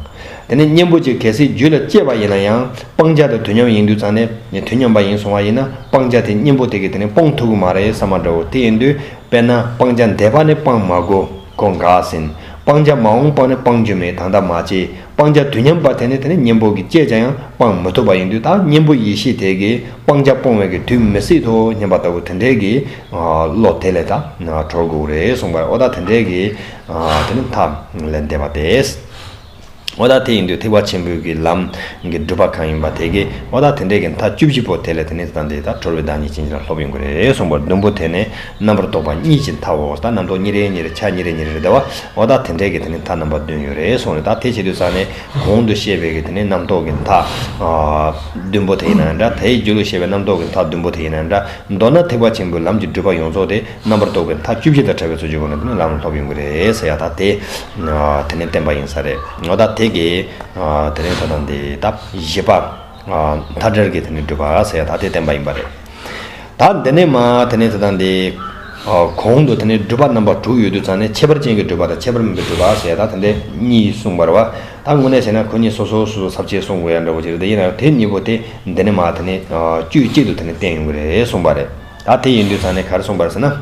དེ་ནི་གཉེན་པོ་ཅིག་གལ་སྲིད་རྒྱུད་ལ་སྐྱེས་པ་ཡིན་ན་ཡང་སྤང་བྱ་དང་དུས་མཉམ་ཡིན་དུས་ཙམ་ནས་ནི་དུས་མཉམ་པ་ཡིན་སོང་བ་ཡིན་ན་སྤང་བྱ་དེ་གཉེན་པོ་དེ་གིས་དེ་ནི་སྤོང་ཐུབ་ཀྱི་མ་རེད་ས་མ་འདྲའོ་དེ་ཡིན་དུས་དཔེར་ན་སྤང་བྱ་འདས་པ་ནི་སྤང་མ་གོ་གོ་འགག་ཟིན་སྤང་བྱ་མ་འོངས་པ་ནི་སྤང་རྒྱུ་མེད་ད་ལྟ་མ་སྐྱེས་སྤང་བྱ་དུས་མཉམ་པ་དེ་ནི་དེ་ནི་གཉེན་པོ་གིས་སྐྱེས་བྱ་ཡང་སྤང་མི་ཐུབ་པ་ཡིན་དུས་ད་གཉེན་པོ་ཡེ་ཤེས་དེ་གིས་སྤང་བྱ་སྤོང་བའི་གི་དུས་མི་སྲིད་དོ་སྙམ་པ་ལྟ་བུ་དེ་འདྲའི་གི་བློ་དེ་ལས་ད་གྲོལ་དགོས་རེད་གསུངས་པ་ཨོ་ད་དེ་འདྲའི་གི་དེ་ནི་མཐའ་ལས་འདས་པ་རེད། བ་དག་དེ་ཡིན་དུས་ཐེག་པ་ཆེན་པོའི་གི་ལམ་གི་སྒྲུབ་པ་གང་ཡིན་པ་དེ་གི་བ་དག་དེ་འདྲའི་གི་མཐའ་བཅུ་བཞི་པོ་དེ་ལས་དེ་ནི་དེ་དང་དེ་དག་གྲོལ་བའི་བདག་ཉིད་ཅན་ཅི་ལ་སློབ་ཡོང་གི་རེད་གསུངས་པར་བདུན་པོ་དེ་ནི་རྣམ་པར་རྟོག་པ་གཉིས་ཀྱི་མཐའ་འོག་དང་རྣམ་རྟོག་གཉིས་རེ་གཉིས་རེ་ཆ་གཉིས་རེ་གཉིས་རེ་རེ་བདེ་བ་བ་དག་དེ་འདྲའི་གི་དེ་ནི་མཐའ་རྣམ་པ་བདུན་ཡོད་རེད་གསུངས་རེད་ད་དེ་བྱེད་དུས་ས་ནི་གོང་དུ་བཤད་པའི་གི་དེ་ནི་རྣམ་རྟོག་གི་མཐའ་བདུན་པོ་དེ་ཡིན་ན་འདྲ་དེའི་རྒྱུད་ལུགས་བཤད་པའི་རྣམ་རྟོག་གི་མཐའ་བདུན་པོ་དེ་ཡིན་ན་འདྲ་མདོར་ན་ཐེག་པ་ཆེན་པོའི་ལམ་གྱི་སྒྲུབ་པ་ཡོངས་རྫོགས་དེ་རྣམ་པར་རྟོག་པའི་མཐའ་བཅུ་བཞི་དང་བྲལ་བའི་ཚུལ་བཅུ་པོ་ནི་ལམ་ལམ་ལྷོ་བའི་མགུལ་རེ་རེའི་ས་ཡ་དག་སྟེ། དེ་ནི་བསྟན་པ་ཡིན་ས་རེད་འོ་ད་དེ་གས། དེ་རིང་ད་དང་འདི་ད་བཞི་པ། མཐའ་བྲལ་གྱི་དེ་ནི་སྒྲུབ་པ་ས་ཡ་དག་སྟེ་བསྟན་པ་ཡིན་པ་རེད། ད་འདི་ནས་མ་དེ་ནི་ད་དང་འདི། གོང་དུ་དེ་ནི་སྒྲུབ་པ་རྣམ་པ་དྲུག་ཡོད་དུས་ཚང་ནས་ཁྱད་པར་ཅན་གྱི་སྒྲུབ་པ་དང་ཁྱད་པར་མིན་པའི་སྒྲུབ་པ་ས་ཡ་དག་དེ་འདྲ་གཉིས་གསུངས་པར་བ་ད་དངོས་གནས་བྱས་ན་ཁོ་གཉིས་སོ་སོ་སོ་སོར་ཚབ་བྱེད་གསུང་དགོས་ཡ་འདྲ་བོ་ཅིག་རེད་ཡིན་ནའང་དེ་གཉིས་པོ་དེ་འདི་ནས་མ་དེ་ནི་དཀྱུས་གཅིག་ཏུ་དེ་ནི་བསྟན་ཡོང་གི་རེད་གསུངས་པ་རེད། ད་དེ་ཡིན་དུས་ད་ནི་གར་སོང་བར་ཟེར་ན།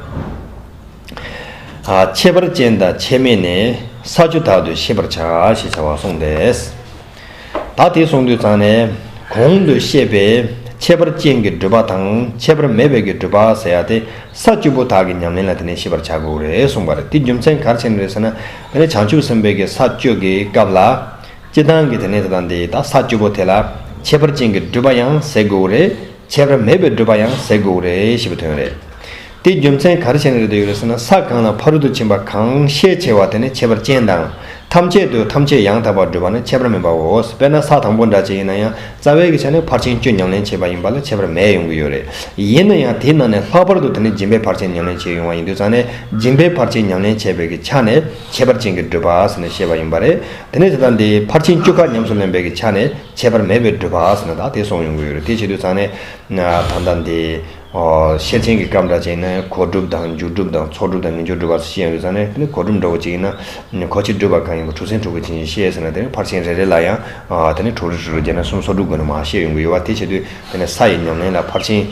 ཁྱད་པར་ཅན་དང་ཁྱད་མེད་ནི་ས་བཅུ་དག་ཏུ་ཤེས་པར་བྱ་ཞེས་བྱ་བ་གསུངས་པས། ད་དེ་སོང་དུས་ད་ནི་གོང་དུ་བཤད་པའི་ཁྱད་པར་ཅན་གྱི་སྒྲུབ་པ་དང་ཁྱད་པར་མེད་པའི་གྱི་སྒྲུབ་པ་ཟེར་ཡ་དེ་ས་བཅུ་པོ་དག་གི་ཉམས་ལེན་ལ་དེ་ནས་ཤེས་པར་བྱ་དགོས་རེད་གསུངས་པ་རེད་དེ་རྒྱུ་མཚན་གར་ཕྱིན་རེད་ཟེར་ན། དེ་ནི་བྱང་ཆུབ་སེམས་དཔའི་གྱི་ས་བཅུ་གྱི་སྐབས་ལ་སྤྱི་དང་གི་དེ་ནས་དེ་དང་དེའི་ད་ས་བཅུ་པོ་དེ་ལ་ཁྱད་པར་ཅན་གྱི་སྒྲུབ་པ་ཡང་ཟེར་དགོས་རེད་ཁྱད་པར་མེད་པའི་བགྲོད་པ་ཡང་ཟད་དགོས་རེད་ཞེས་པའི་དོན་རེད། དེའི་རྒྱུ་མཚན་ག་རེ་བྱས་ནས་རེད་དུ་ཡོད་རེད་ཟེར་ན་ས་གང་ལ་ཕ་རོལ་ཏུ་ཕྱིན་པ་གང་ཤས་ཆེ་བ་དེ་ནི་ཁྱད་པར་ཅན་དང། ཐམས་ཅད་དུ་ཐམས་ཅད་ཡང་དག་པར་བགྲོད་པ་ནི་ཁྱད་པར་མིན་པའོ། དཔེར་ན་ས་དང་པོ་འདྲ་ཅན་ཡིན་ན་ཡང་རྩ་བའི་གི་ཆ་ནི་ཕར་ཕྱིན་བཅུ་ཉམས་ལེན་བྱས་པ་ཡིན་པ་ལ་ཁྱད་པར་མེད་ཡོང་གི་ཡོད་རེད། ཡིན་ན་ཡང་དེའི་ནང་ནས་ལྷག་པར་དུ་དེ་ནི་སྦྱིན་པའི་ཕར་ཕྱིན་ཉམས་ལེན་བྱས་ཡོང་བ་ཡིན་དུས་ཙང་ནས་སྦྱིན་པའི་ཕར་ཕྱིན་ཉམས་ལེན་བྱས་པའི་གི་ཆ་ནས་ཁྱད་པར་ཅན་གྱི་བགྲོད་པ་ཟེར་ནས་བཤད་པ་ཡིན་པ་རེད། དེ་ནས་དེ་དང་དེའི་ཕར་ཕྱིན་བཅུ་ཁ་ཉམས་སུ་ལེན་པའི་གི་ཆ་ནས། ཁྱད་པར་མེད་པའི་སྒྲུབ་པ་ཟེར་ན་ད་དེ་སོང་ཡོང་གི་ཡོད་རེད་དེ་བྱེད་དུས་ཚང་ནས་ད་ལྟ་འདི། ཤེར་ཕྱིན་གྱི་སྐབས་འདྲ་བྱས་ན་གོ་སྒྲུབ་དང་འཇུག་སྒྲུབ་དང་ཚོགས་སྒྲུབ་དང་ཉིད་སྦྱོར་སྒྲུབ་བར་ཤེས་ཡོང་དུས་ཚང་ནས་གོ་སྒྲུབ་འདྲ་བོ་བྱེད་ཀྱི་ན་གོ་ཕྱིར་སྒྲུབ་པ་གང་ཡིན་པ་དྲུག་ཚན་དྲུག་གི་བྱིན་གྱིས་ཤེས་ཟེར་ན་དེ་ནི་ཕར་ཕྱིན་རེ་རེ་ལ་ཡང་དེ་ནི་དྲུག་རེ་དྲུག་རེ་བརྒྱད་ན་གསུམ་སོགས་སྒྲུབ་དགོས་ན་མ་ཤེས་ཡོང་གི་ཡོད་བ་དེ་བྱེད་དུས་དེ་ནི་ས་ཡི་ཉམས་ལེན་ལ་ཕར་ཕྱིན་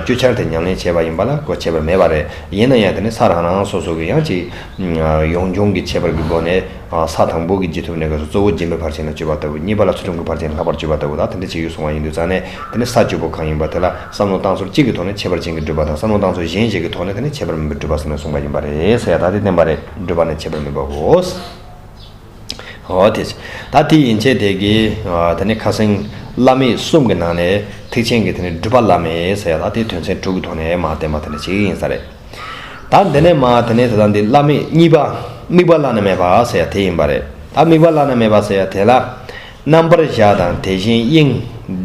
བཅུ་ཆར་དེ་ཉམས་ལེན་བྱས་པ་ཡིན་པ་ལ་གོ་ཁྱད་པར་མེད་པ་རེད་ཡིན་ན་ཡང་དེ་ནི་ས་རང་རང་སོ་སོ་གི་ཡང་ཅིག་ཡོངས་སྦྱོང་གི་ཁྱད་པར་གྱི་སྒོ་ནས། ས་དང་པོ་གི་རྗེས་ཐོབ་གནས་སྐབས་སུ་གཙོ་བོ་རྗེས་མེད་བར་བྱས་ན་སྤྱོད་པ་ལྟ་བུ་གཉིས་པ་ལ་ཚུལ་ཁྲིམས་ཀྱི་བར་བྱས་ན་ལྷག་པར་སྤྱོད་པ་ལྟ་བུ་དང་དེ་འདྲ་བྱེད་ཡུལ་གཟུང་བ་ཡིན་དུ་བརྩམས་ནས་དེ་ནི་ས་སྤྱོད་པོ་གང་ཡིན་པ་དེ་ལ་བསམ་མནོ་བཏང་ཚུལ་གཅིག་གི་ཐོག་ནས་ཁྱད་པར་ཅན་གྱི་སྒྲུབ་པ་དང་བསམ་མནོ་བཏང་ཚུལ་གཞན་ཞིག་གི་ཐོག་ནས་དེ་ནི་ཁྱད་པར་མིན་པའི་སྒྲུབ་པ་ཟེར་ནས་གསུངས་པ་ཡིན་པ་རེད་ས་ཡ་ད་དེ་བསྟན་པ་རེད་སྒྲུབ་པ་ནི་ཁྱད་པར་མིན་པའོ། ད་དེ་ཡིན་ཆད་དེ་གི་དེ་ནི་ཁ་གསེང་བླ་མེད་གསུམ་གྱི་ནང་ནས་ཐེག་ཆེན་གྱི་དེ་ནི་སྒྲུབ་པ་བླ་མེད་ས་ཡ་ད་དེ་དོན་ཚན་དྲུག་གི་ཐོག་ནས་མ་བསྟན་པ་དེ་འདྲ་བྱེད་ཀྱི་ཡིན་ས་རེད། ད་འདི་ནས་མ་དེ་ནས་དེ་དང་འདི་བླ་མེད་གཉིས་པ་དམིགས་པ་བླ་ན་མེད་པ་ཟེར་དེ་ཡིན་པ་རེད་ད་དམིགས་པ་བླ་ན་མེད་པ་ཟེར་དེ་ལ། རྣམ་པར་གཞག་དང་དེ་བཞིན་དབྱིངས།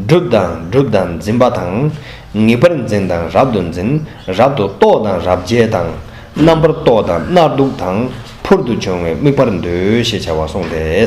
བསྒྲུབ་དང་བསྒྲུབ་དང་འཛིན་པ་དང། ངེས་པར་འཛིན་དང་རབ་ཏུ་འཛིན། རབ་ཏུ་རྟོག་དང་རབ་འཇལ་དང། རྣམ་པར་རྟོག་དང་རྣར་འདུག་དང། འཕུར་དུ་བྱུང་བའི་དམིགས་པར་འདོད་ཞེས་བྱ་བ་གསུངས་ཏེ།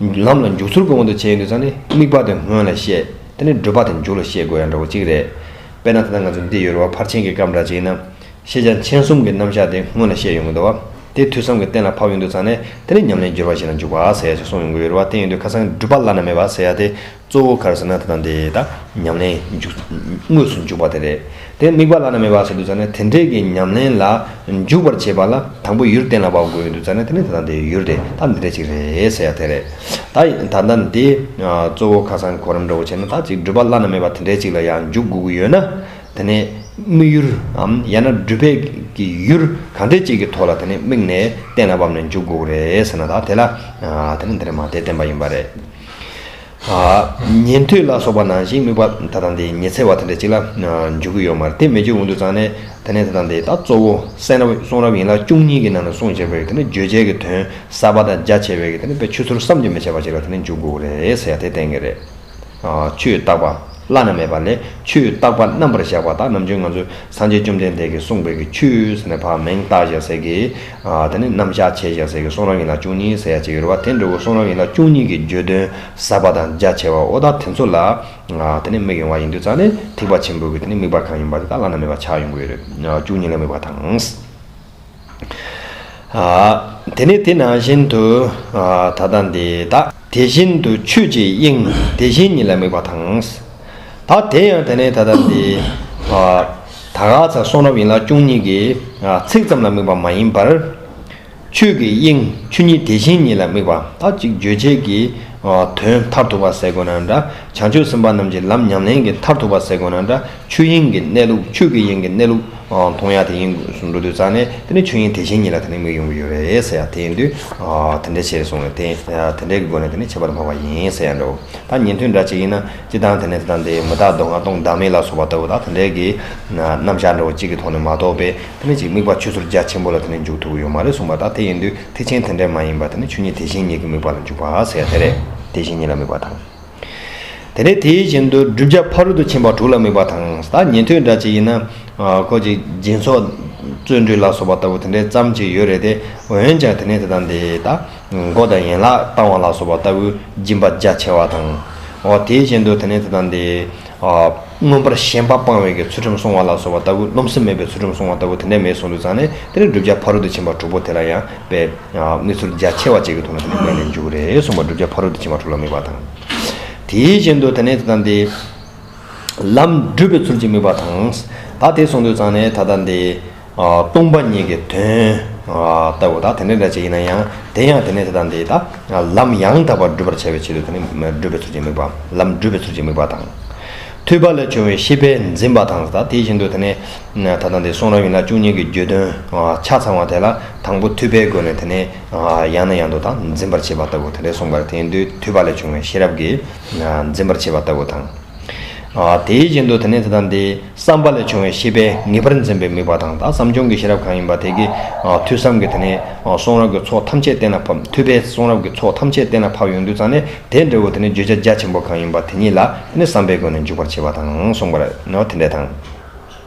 ལམ་ལ་འཇུག་ཚུར་དགོས་མཁོ་འདུ་བྱེད་ཡིན་དུས་ཚང་ནི་དམིགས་པ་དེ་སྔོན་ལ་བཤད་དེ་ནས་བསྒྲུབ་པ་དེ་མཇུག་ལ་བཤད་དགོས་ཡང་འདྲ་བོ་གཅིག་རེད། དཔེར་ན་ད་ལྟ་ང་ཚོ་འདི་ཡོད་རེ་བ་ཕར་ཕྱིན་གྱི་སྐབས་འདྲ་གཅིག་ཡིན་ན། ཤེས་བྱ་མཁྱེན་གསུམ་གྱི་རྣམ་གཞག་དེ་སྔོན་ལ་བཤད་ཡོང་གི་འདུག་བ། དེ་དུས་བསམ་གྱི་གཏན་ལ་ཕབ་ཡོང་དུས་ཚང་ནི་དེ་ནི་ཉམས་ལེན་སྦྱོར་བ་ཞིག་ལ་འཇུག་པ་ཟེར་ཡ་ཞིག་གསུངས་ཡོང་གི་ཡོད་རེ་བ་དེ་ཡིན་དུས་ཁ་སང་གི་སྒྲུབ་པ་བླ་ན་མེད་པ་ཟེར་ཡ་དེ་གཙོ་བོ་གར་ཟེར་ན་དེ་དང་དེ་དག་ཉམས་ལེན་འཇུག་དངོས་སུ་འཇུག་པ་དེ་རེད། དེ་དམིགས་པ་ལ་ན་མེད་པ་ཟེར་དུས་ཙང་ནས་དེ་འབྲེལ་གྱི་ཉམས་ལེན་ལ་འཇུག་པར་བྱེད་པ་ལ་དང་པོ་ཡུལ་གཏན་ལ་དབབ་དགོས་དུས་ཙང་ནས་དེ་ནི་དེ་དང་དེའི་ཡུལ་རེད་ད་འདི་འདྲ་ཅིག་རེད་ཟེར་ཡ་དེ་རེད། ད་ཡིན་ད་ལྟ་ནི་དེ་གཙོ་བོ་ཁ་སང་གོ་རིམ་འདྲ་བོ་བྱས་ན་ད་ཅིག་སྒྲུབ་པ་བླ་ན་མེད་པ་དེ་འདྲ་ཅིག་ལ་ཡང་འཇུག་དགོས་ཀྱི་ཡོད་ན། དེ་ནི་དམིགས་ཡུལ་འམ་ཡང་ན་སྒྲུབ་བྱེད་ཀྱི་ཡུལ་གང་འདྲ་ཅིག་གི་ཐོག་ལ་དེ་ནི་དམིགས་ནས་གཏན་ལ་དབབ་ནས་འཇུག་དགོས་ཀྱི་རེད་ཟེར་ན་ད་དེ་ལ་དེ་ནི་འདི་རེད་མ་དེ་བསྟན་པ་ཡིན་པ་རེད། ཉན་ཐོས་ལ་སོགས་པ་ནང་བཞིན་དམིགས་པ་ད་དང་དེ་ཉི་ཚེ་བ་དེ་འདྲ་གཅིག་ལ་འཇུག་གི་ཡོད་མ་རེད་དེ་མི་འཇུག་འོང་དུ་ཙང་ནས་དེ་ནས་ད་དང་དེ་ད་གཙོ་བོ་སེང་རབ་གསུང་རབ་ཡིན་ལ་བཅུ་གཉིས་ཀྱི་ནང་ནས་གསུང་བྱས་པའི་དེ་ནས་བརྗོད་བྱས་ཀྱི་དོན་གསར་པ་དང་རྒྱ་ཆེ་བའི་དེ་ནས་དཔེ་ཆུ་ཚུར་བསམ་གྱིས་མི་ཁྱབ་པ་ཅིག་ལ་དེ་ནས་འཇུག་དགོས་རེད་ཟེར་ཡ་དེ་བསྟན་གྱི་རེད། ཆུའི་རྟག་པ་བླ་ན་མེད་པ་ལས་ཆུའི་རྟག་པ་རྣམ་པར་བཞག་པ་དག་ནམ་རྒྱུན་ང་ཚོས་སངས་རྒྱས་བཅོམ་ལྡན་འདས་ཀྱིས་གསུངས་པའི་གི་ཆུ་ཟེར་ནས་བག་མེངས་རྟག་བཞག་ཟེར་གི། དེ་ནི་རྣམ་གཞག་ཆེ་ཞེས་ཟེར་གྱི་གསུང་རབ་ཡིན་ལ་བཅུ་གཉིས་ཟེར་ཡ་གཅིག་ཡོད་རེད་བ་དེ་འདྲ་བོ་གསུང་རབ་ཡིན་ལ་བཅུ་གཉིས་ཀྱི་བརྗོད་དོན་ཟབ་པ་དང་རྒྱ་ཆེ་བ་འོ་ད་དེ་ཚོ་ལ་དེ་ནི་མིག་ཡོང་བ་ཡིན་དུས་རྩ་ནས་ཐིགས་པ་ཆེན་པོ་གི་དེ་ནི་མིག་བར་གང་ཡིན་པ་དེ་དག་བླ་ན་མེད་པ་ཆགས་ཡོང་གི་ཡོད་རེད་བཅུ་གཉིས་ལ་དམིགས་པ་དང། དེ་ནི་དེ་ནང་བཞིན་དུ་ད་ལྟ་འདི་དག། དེ་བཞིན་དུ་ཆོས་ཀྱི་དབྱིངས་དེ་བཞིན་ཉིད་ལ་དམིགས་པ་དང། ད་དེ་ཡང་དེ་ནས་ད་ལྟར་འདི། ད་ག་ཚ་གསུང་རབ་ཡིན་ལ་སྐྱུང་གཉིས་ཀྱི། ཚིག་ཙམ་ལ་དམིགས་པ་མ་ཡིན་པར། ཆོས་ཀྱི་དབྱིངས་ཆོས་ཉིད་དེ་བཞིན་ཉིད་ལ་དམིགས་པ་ད་ཅིག་བརྗོད་བྱེད་ཀྱི། དོན་མཐར་ཐུག་པ་ཟད་དགོས་ན་འདྲ་བྱང་ཆུབ་སེམས་དཔའ་རྣམས་ཀྱི་ལམ་ཉམས་ལེན་གྱི་མཐར་ཐུག་པ་ཟད་དགོས་ན་འདྲ་ཆོས་དབྱིངས་ཀྱི་གནས་ལུགས་ཆོས་ཀྱི་དབྱིངས་ཀྱི་གནས་ལུགས། མཐོང་ཡང་དེ་ཡིན་དགོས་སུ་འགྲོ་དུས་རྩ་ནས་དེ་ནི་ཆོས་དབྱིངས་དེ་བཞིན་ཉིད་ལ་དེ་ནི་མིག་ཡོང་གི་ཡོད་རེད་ཟེར་ཡང་དེ་ཡིན་དུས། དེ་འདྲའི་ཆེད་སོང་བས་དེ་དེ་འདྲའི་སྒོ་ནས་དེ་ནི་ཁྱད་པར་འཕགས་པ་ཡིན་ཟེར་ཡང་འགྲོ། ད་ཉན་ཐོས་འདྲ་ཅིག་ཡིན་ན་སྤྱི་བཏང་དེ་ནས་དེ་དང་དེའི་མི་རྟག་མདོ་སྔགས་སྟོང་བདག་མེད་ལ་སོགས་པ་ལྟ་བུ་དག་དེ་འདྲའི་གི། རྣམ་བཞག་འདྲ་བོ་གཅིག་གི་ཐོག་ནས་མ་རྟོགས་པས་དེ་ནི་གཅིག་དམིགས་པ་ཆུད་ཟོར་རྒྱ་ཆེན་པོ་ལ་དེ་ནི་འཇུག་ཐུབ་ཀྱི་ཡོད་མ་རེད་གསུངས་པ་དག་དེ་ཡིན་དུས་ཐེག་ཆེན་དེ་འདྲའི་མ་ཡིན་པར་དེ་ནི་ཆོས་ཉིད་དེ་བཞིན་ཉིད་ཀྱི་དམིགས་པ་ལ་འཇུག་པ་དེ་རེད། དེ་བཞིན་ཉིད་ལ་དམིགས་པ་དང། དེ་ནས་དེའི་བཞིན་དུ་བསྒྲུབ་བྱ་ཕ་རོལ་ཏུ་ཕྱིན་པ་དྲུག་ལ་དམིགས་པ་དང། ད་ཉན་ཐོས་འདྲ་ཅིག་ཡིན་ན། ཁོ་ཅིག་སྦྱིན་སོགས། བརྩོན་འགྲུས་ལ་སོགས་པ་ལྟ་བུ་དེ་འདྲའི་ཙམ་ཅིག་ཡོད་རེད་དེ། འོན་ཀྱང་དེ་ནས་དེ་དང་དེ་དག། མགོ་དང་ཡན་ལག་བཏང་བ་ལ་སོགས་པ་ལྟ་བུའི་སྦྱིན་པ་རྒྱ་ཆེ་བ་དང། དེའི་བཞིན་དུ་དེ་ནས་དེ་དང་དེའི། མངོན་པར་ཞེན་པ་སྤང་བའི་གའི་ཚུལ་ཁྲིམས་བསྲུང་བ་ལ་སོགས་པ་ལྟ་བུ་རློམ་སེམས་མེད་པའི་ཚུལ་ཁྲིམས་བསྲུང་བ་ལྟ་བུ་དེ་འདྲའི་མེད་གསུང་དུ་བརྩམས་ནས་དེ་ལས་བསྒྲུབ་བྱ་ཕ་རོལ་ཏུ་ཕྱིན་པ་དྲུག་པོ་དེ་ལ་ཡང་དཔེ། གནས་ཚུལ་རྒྱ་ཆེ་བ་བཅས་ཀྱི་ཐོག་ནས་དེ་ནི་གནས་ནས་འཇུག་རེ་གསུངས་པ་བསྒྲུབ་བྱ་ཕ་རོལ་ཏུ་ཕྱིན་པ་དྲུག་ལ་དམིགས་པ་དང། དེའི་རྐྱེན་དུ་དེ་ནས་ད་ལྟ་འདི། ལམ་བསྒྲུབ་པའི་ཚུལ་གྱིས་དམིགས་པ་དང། ད་དེ་གསུང་དུ་བརྩམས་ནས་ད་ལྟ་འདི། སྟོང་པ་ཉིད་ཀྱི་དོན། ལྟ་བུ་དང་དེ་འདྲ་འདྲ་བྱེད་ཡིན་ན་ཡང་དེ་ཡང་དེ་ནས་དེ་དང་དེ་དག་ལམ་ཡང་དག་པར་བསྒྲུབ་པར་བྱ་བའི་ཆེད་དུ་དེ་ནི་བསྒྲུབ་པའི་ཚུལ་གྱི་དམིགས་པ། ལམ་བསྒྲུབ་པའི་ཚུལ་གྱི་དམིགས་པ་དང། ཐོས་པ་ལས་བྱུང་བའི་ཤེས་པས་འཛིན་པ་དང་དེ་བཞིན་དུ་དེ་ནི། ད་དང་དེ་གསུང་རབ་ཡིན་ལ་བཅུ་གཉིས་ཀྱི་རྒྱུད་དོན་ཆ་ཚང་བ་དེ་ལ་དང་པོ་ཐོས་པའི་སྒོ་ནས་དེ་ནི། ཡང་ནས་ཡང་དུ་དང་འཛིན་པར་བྱེད་པ་ལྟ་བུ་དེ་འདྲའི་གསུངས་པར་དེ་ཡིན་དུས་ཐོས་པ་ལས་བྱུང་བའི་ཤེས་རབ་ཀྱིས་འཛིན་པར་བྱེད་པ་ལྟ་བུ་དང། དེའི་རྐྱེན་དུ་དེ་ནས་དེ་དང་དེའི་བསམ་པ་ལས་བྱུང་བའི་ཤེས་པས་ངེས་པར་འཛིན་པའི་དམིགས་པ་དང་དག་བསམ་སྦྱོང་གི་ཤེས་རབ་གང་ཡིན་པ་དེ་ཀའི་ཐོས་བསམ་གྱིས་དེ་ནས་གསུང་རབ་ཀྱི་ཚོགས་ཐམས་ཅད་གཏན་ལ་ཕབ་ཐོས་པས་གསུང་རབ་ཀྱི་ཚོགས་ཐམས་ཅད་གཏན་ལ་ཕབ་ཡོང་དུས་ཙམ་ནས་དེའི་འབྲས་བུ་དེ་ནས་བརྗོད་བྱ་རྒྱ་ཆེན་པོ་གང་ཡིན་པ་དེ་ཉིད་ལ་ནི་བསམ་པའི་སྒོ་ནས་འཇུག་པར་བྱེད་པ་དང་གསུངས་པ། དེ་འདྲ་དང།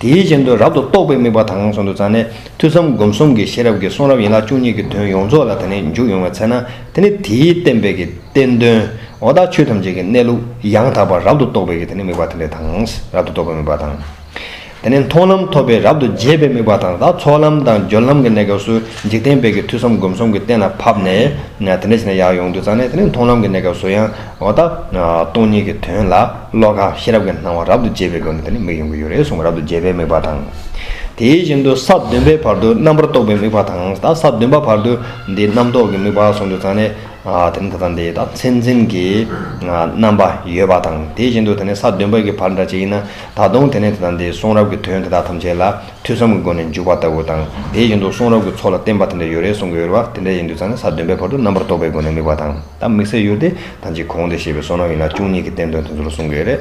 དེའི་རྐྱེན་དུ་རབ་ཏུ་རྟོགས་པའི་དམིགས་པ་དང་གསུམ་དུ་བརྩམས་ནས་ཐོས་བསམ་སྒོམ་གསུམ་གྱི་ཤེས་རབ་ཀྱི་གསུང་རབ་ཡན་ལག་བཅུ་གཉིས་ཀྱི་དོན་ཡོངས་རྫོགས་ལ་དེ་ནས་འཇུག་ཡོང་བའི་ཚེ་ན་དེ་ནི་དེའི་བསྟན་པའི་ཀྱི་བསྟན་དོན་འོ་དག་ཆོས་ཐམས་ཅད་ཀྱི་གནས་ལུགས་ཡང་དག་པར་རབ་ཏུ་རྟོགས་པའི་ཀྱི་དེ་ནི་དམིགས་པ་དེ་འདྲ་དང། རབ་ཏུ་རྟོགས་པའི་དམིགས་པ་དང། དེ་ནས་མཐོང་ལམ་ཐོབ་པའི་རབ་ཏུ་རྒྱས་པའི་དམིགས་པ་དང་དང་ཚོགས་ལམ་དང་སྦྱོར་ལམ་གྱི་གནས་སྐབས་སུ་འཇིག་རྟེན་པའི་ཀྱི་ཐོས་བསམ་སྒོམ་གསུམ་གྱི་གཏན་ལ་ཕབ་ནས་དེ་འདྲ་བྱས་ན་ཡང་ཡོངས་འདུ་བརྩམས་ནས་དེ་ནས་མཐོང་ལམ་གྱི་གནས་སྐབས་སུ་ཡང། འོ་ད། སྟོང་ཉིད་ཀྱི་དོན་ལ་བློ་ཁ་ཤེས་རབ་ཀྱི་སྣང་བ་རབ་ཏུ་རྒྱས་པའི་སྒོ་ནས་དེ་ནི་མིག་ཡོང་གི་ཡོད་རེད་གསུངས་པ་རབ་ཏུ་རྒྱས་པའི་དམིགས་པ་དང། དེ་བཞིན་དུ་ས་བདུན་པའི་བར་དུ་རྣམ་པར་རྟོག་པའི་དམིགས་པ་དང་ད་ས་བདུན་པ་བར་དུ་འདི་རྣམ་རྟོག་གི་དམིགས་པ་གསུངས་དུས་ཙང་ནས། དེ་ནི་ད་ལྟ་འདི་ད་མཚན་འཛིན་གྱི་རྣམ་པ་ཡོད་པ་དང་དེ་བཞིན་དུ་དེ་ནི་ས་བདུན་པ་གི་བར་འདྲ་ཅིག་ཡིན་ན་ད་དུང་དེ་ནི་ད་ལྟ་འདི་གསུང་རབ་ཀྱི་དོན་དེ་དག་ཐམས་ཅད་ལ་ཐོས་བསམ་གྱི་སྒོ་ནས་འཇུག་པ་ལྟ་བུ་དང་དེ་བཞིན་དུ་གསུང་རབ་ཀྱི་ཚོགས་ལ་བརྟེན་པ་དེ་འདྲ་ཡོད་རེད་གསུངས་གི་ཡོད་རེད་བ་དེ་འདྲ་ཡིན་དུས་ཙང་ནས་ས་བདུན་པའི་བར་དུ་རྣམ་པར་རྟོག་པའི་སྒོ་ནས་དམིགས་པ་དང། ད་དམིགས་བསལ་ཡོད་དེ། ད་ཅིག་གོང་དེ་ཞེས་པའི་སོ་ནམ་ཡིན་ན་བཅུ་གཉིས་ཀྱི་བསྟན་དོན་དེ་ཚོ་ལ་གསུང་གི་ཡོད་རེད།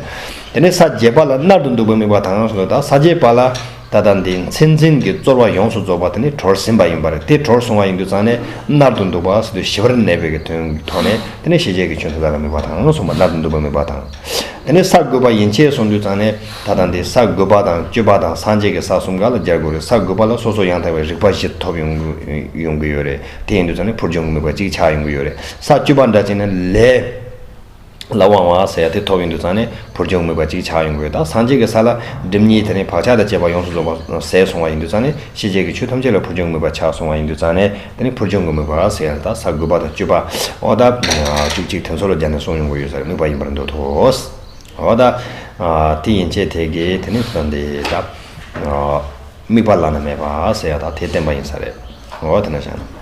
དེ་ནས་ས་བརྒྱད་པ་ལ་མནར་དུ་འདུག་པའི་དམིགས་པ་དང་ཡོངས་སུ་ལོད་ད་ས་བརྒྱད་པ་ལ། ད་ལྟ་འདི་མཚན་འཛིན་གྱི་རྩོལ་བ་ཡོངས་སུ་རྫོགས་པ་དེ་ནི་གྲོར་ཟིན་པ་ཡིན་པར་དེ་གྲོར་སོང་བ་ཡིན་དུ་ཙང་ནས་མནར་དུ་འདུག་པ་སྲིད་དུ་ཞི་བར་གནས་པའི་གི་དོན་གྱི་ཐོག་ནས་དེ་ནས་ཤེས་བྱའི་གི་ཆོས་འདི་དག་ལ་དམིགས་པ་དང་མཚུངས་པ་མནར་དུ་འདུག་པའི་དམིགས་པ་དང། དེ་ནས་ས་དགུ་པ་ཡན་ཆད་སོང་དུས་ཙང་ནས་ད་ལྟ་འདི་ས་དགུ་པ་དང་བཅུ་པ་དང་སངས་རྒྱས་ཀྱི་ས་གསུམ་ག་ལ་སྦྱར་དགོས་རེད་ས་དགུ་པ་ལ་སོ་སོ་ཡང་དག་པའི་རིག་པ་བཞི་ཐོབ་ཡོང་གི་ཡོད་རེད། དེ་ཡིན་དུས་ཚོད་ནི་འཕུར་ལྗོངས་མི་འབོར་གཅིག་ཆགས་ཡོང་གི་ཡོད་རེད་ས་བཅུ་པ་འདྲ་ཅན་ནི་ལས་ལ་དབང་བ་ཟེར་ཡ་དེ་ཐོབ་ཡོང་དུས་ཚང་ནི་འཕུར་ལྗོངས་མི་འབོར་གཅིག་ཆགས་ཡོང་གི་ཡོད་ད་སངས་རྒྱས་ཀྱི་ས་ལ་སྒྲིབ་གཉིས་དེ་རིང་བག་ཆགས་དང་བཅས་པ་ཡོངས་སུ་རྫོགས་པ་ཟད་སོང་བ་ཡིན་དུས་ཚང་ནི་ཤེས་བྱའི་གི་ཆོས་ཐམས་ཅད་ལ་འཕུར་ལྗོངས་མི་འབོར་ཆགས་སོང་བ་ཡིན་དུས་ཚང་ནི་དེ་ནི་འཕུར་ལྗོངས་གི་མི་འབོར་ཟེར་ཡ་རེད་ད་ས་དགུ་པ་དང་བཅུ་པ་འོ་ད་བཅུ་གཅིག་དེ་ཚོ་ལ་སྦྱར་ནས་གསུངས་ཡོང་གི་ཡོད་ས་རེད་ནུས་པ་ཡིན་པར་འདོད་དོ། འོ་ད་དེ་ཡིན་ཆད་དེ་གི་དེ་ནི་ཟོན་དེ་ད། དམིགས་པ་བླ་ན་མེད་པ་ཟེར་ཡག་དག་དེ་བསྟན་པ་ཡིན་ས་རེད་ངོ་བོ་དེ་འདྲ་བཞག་ན།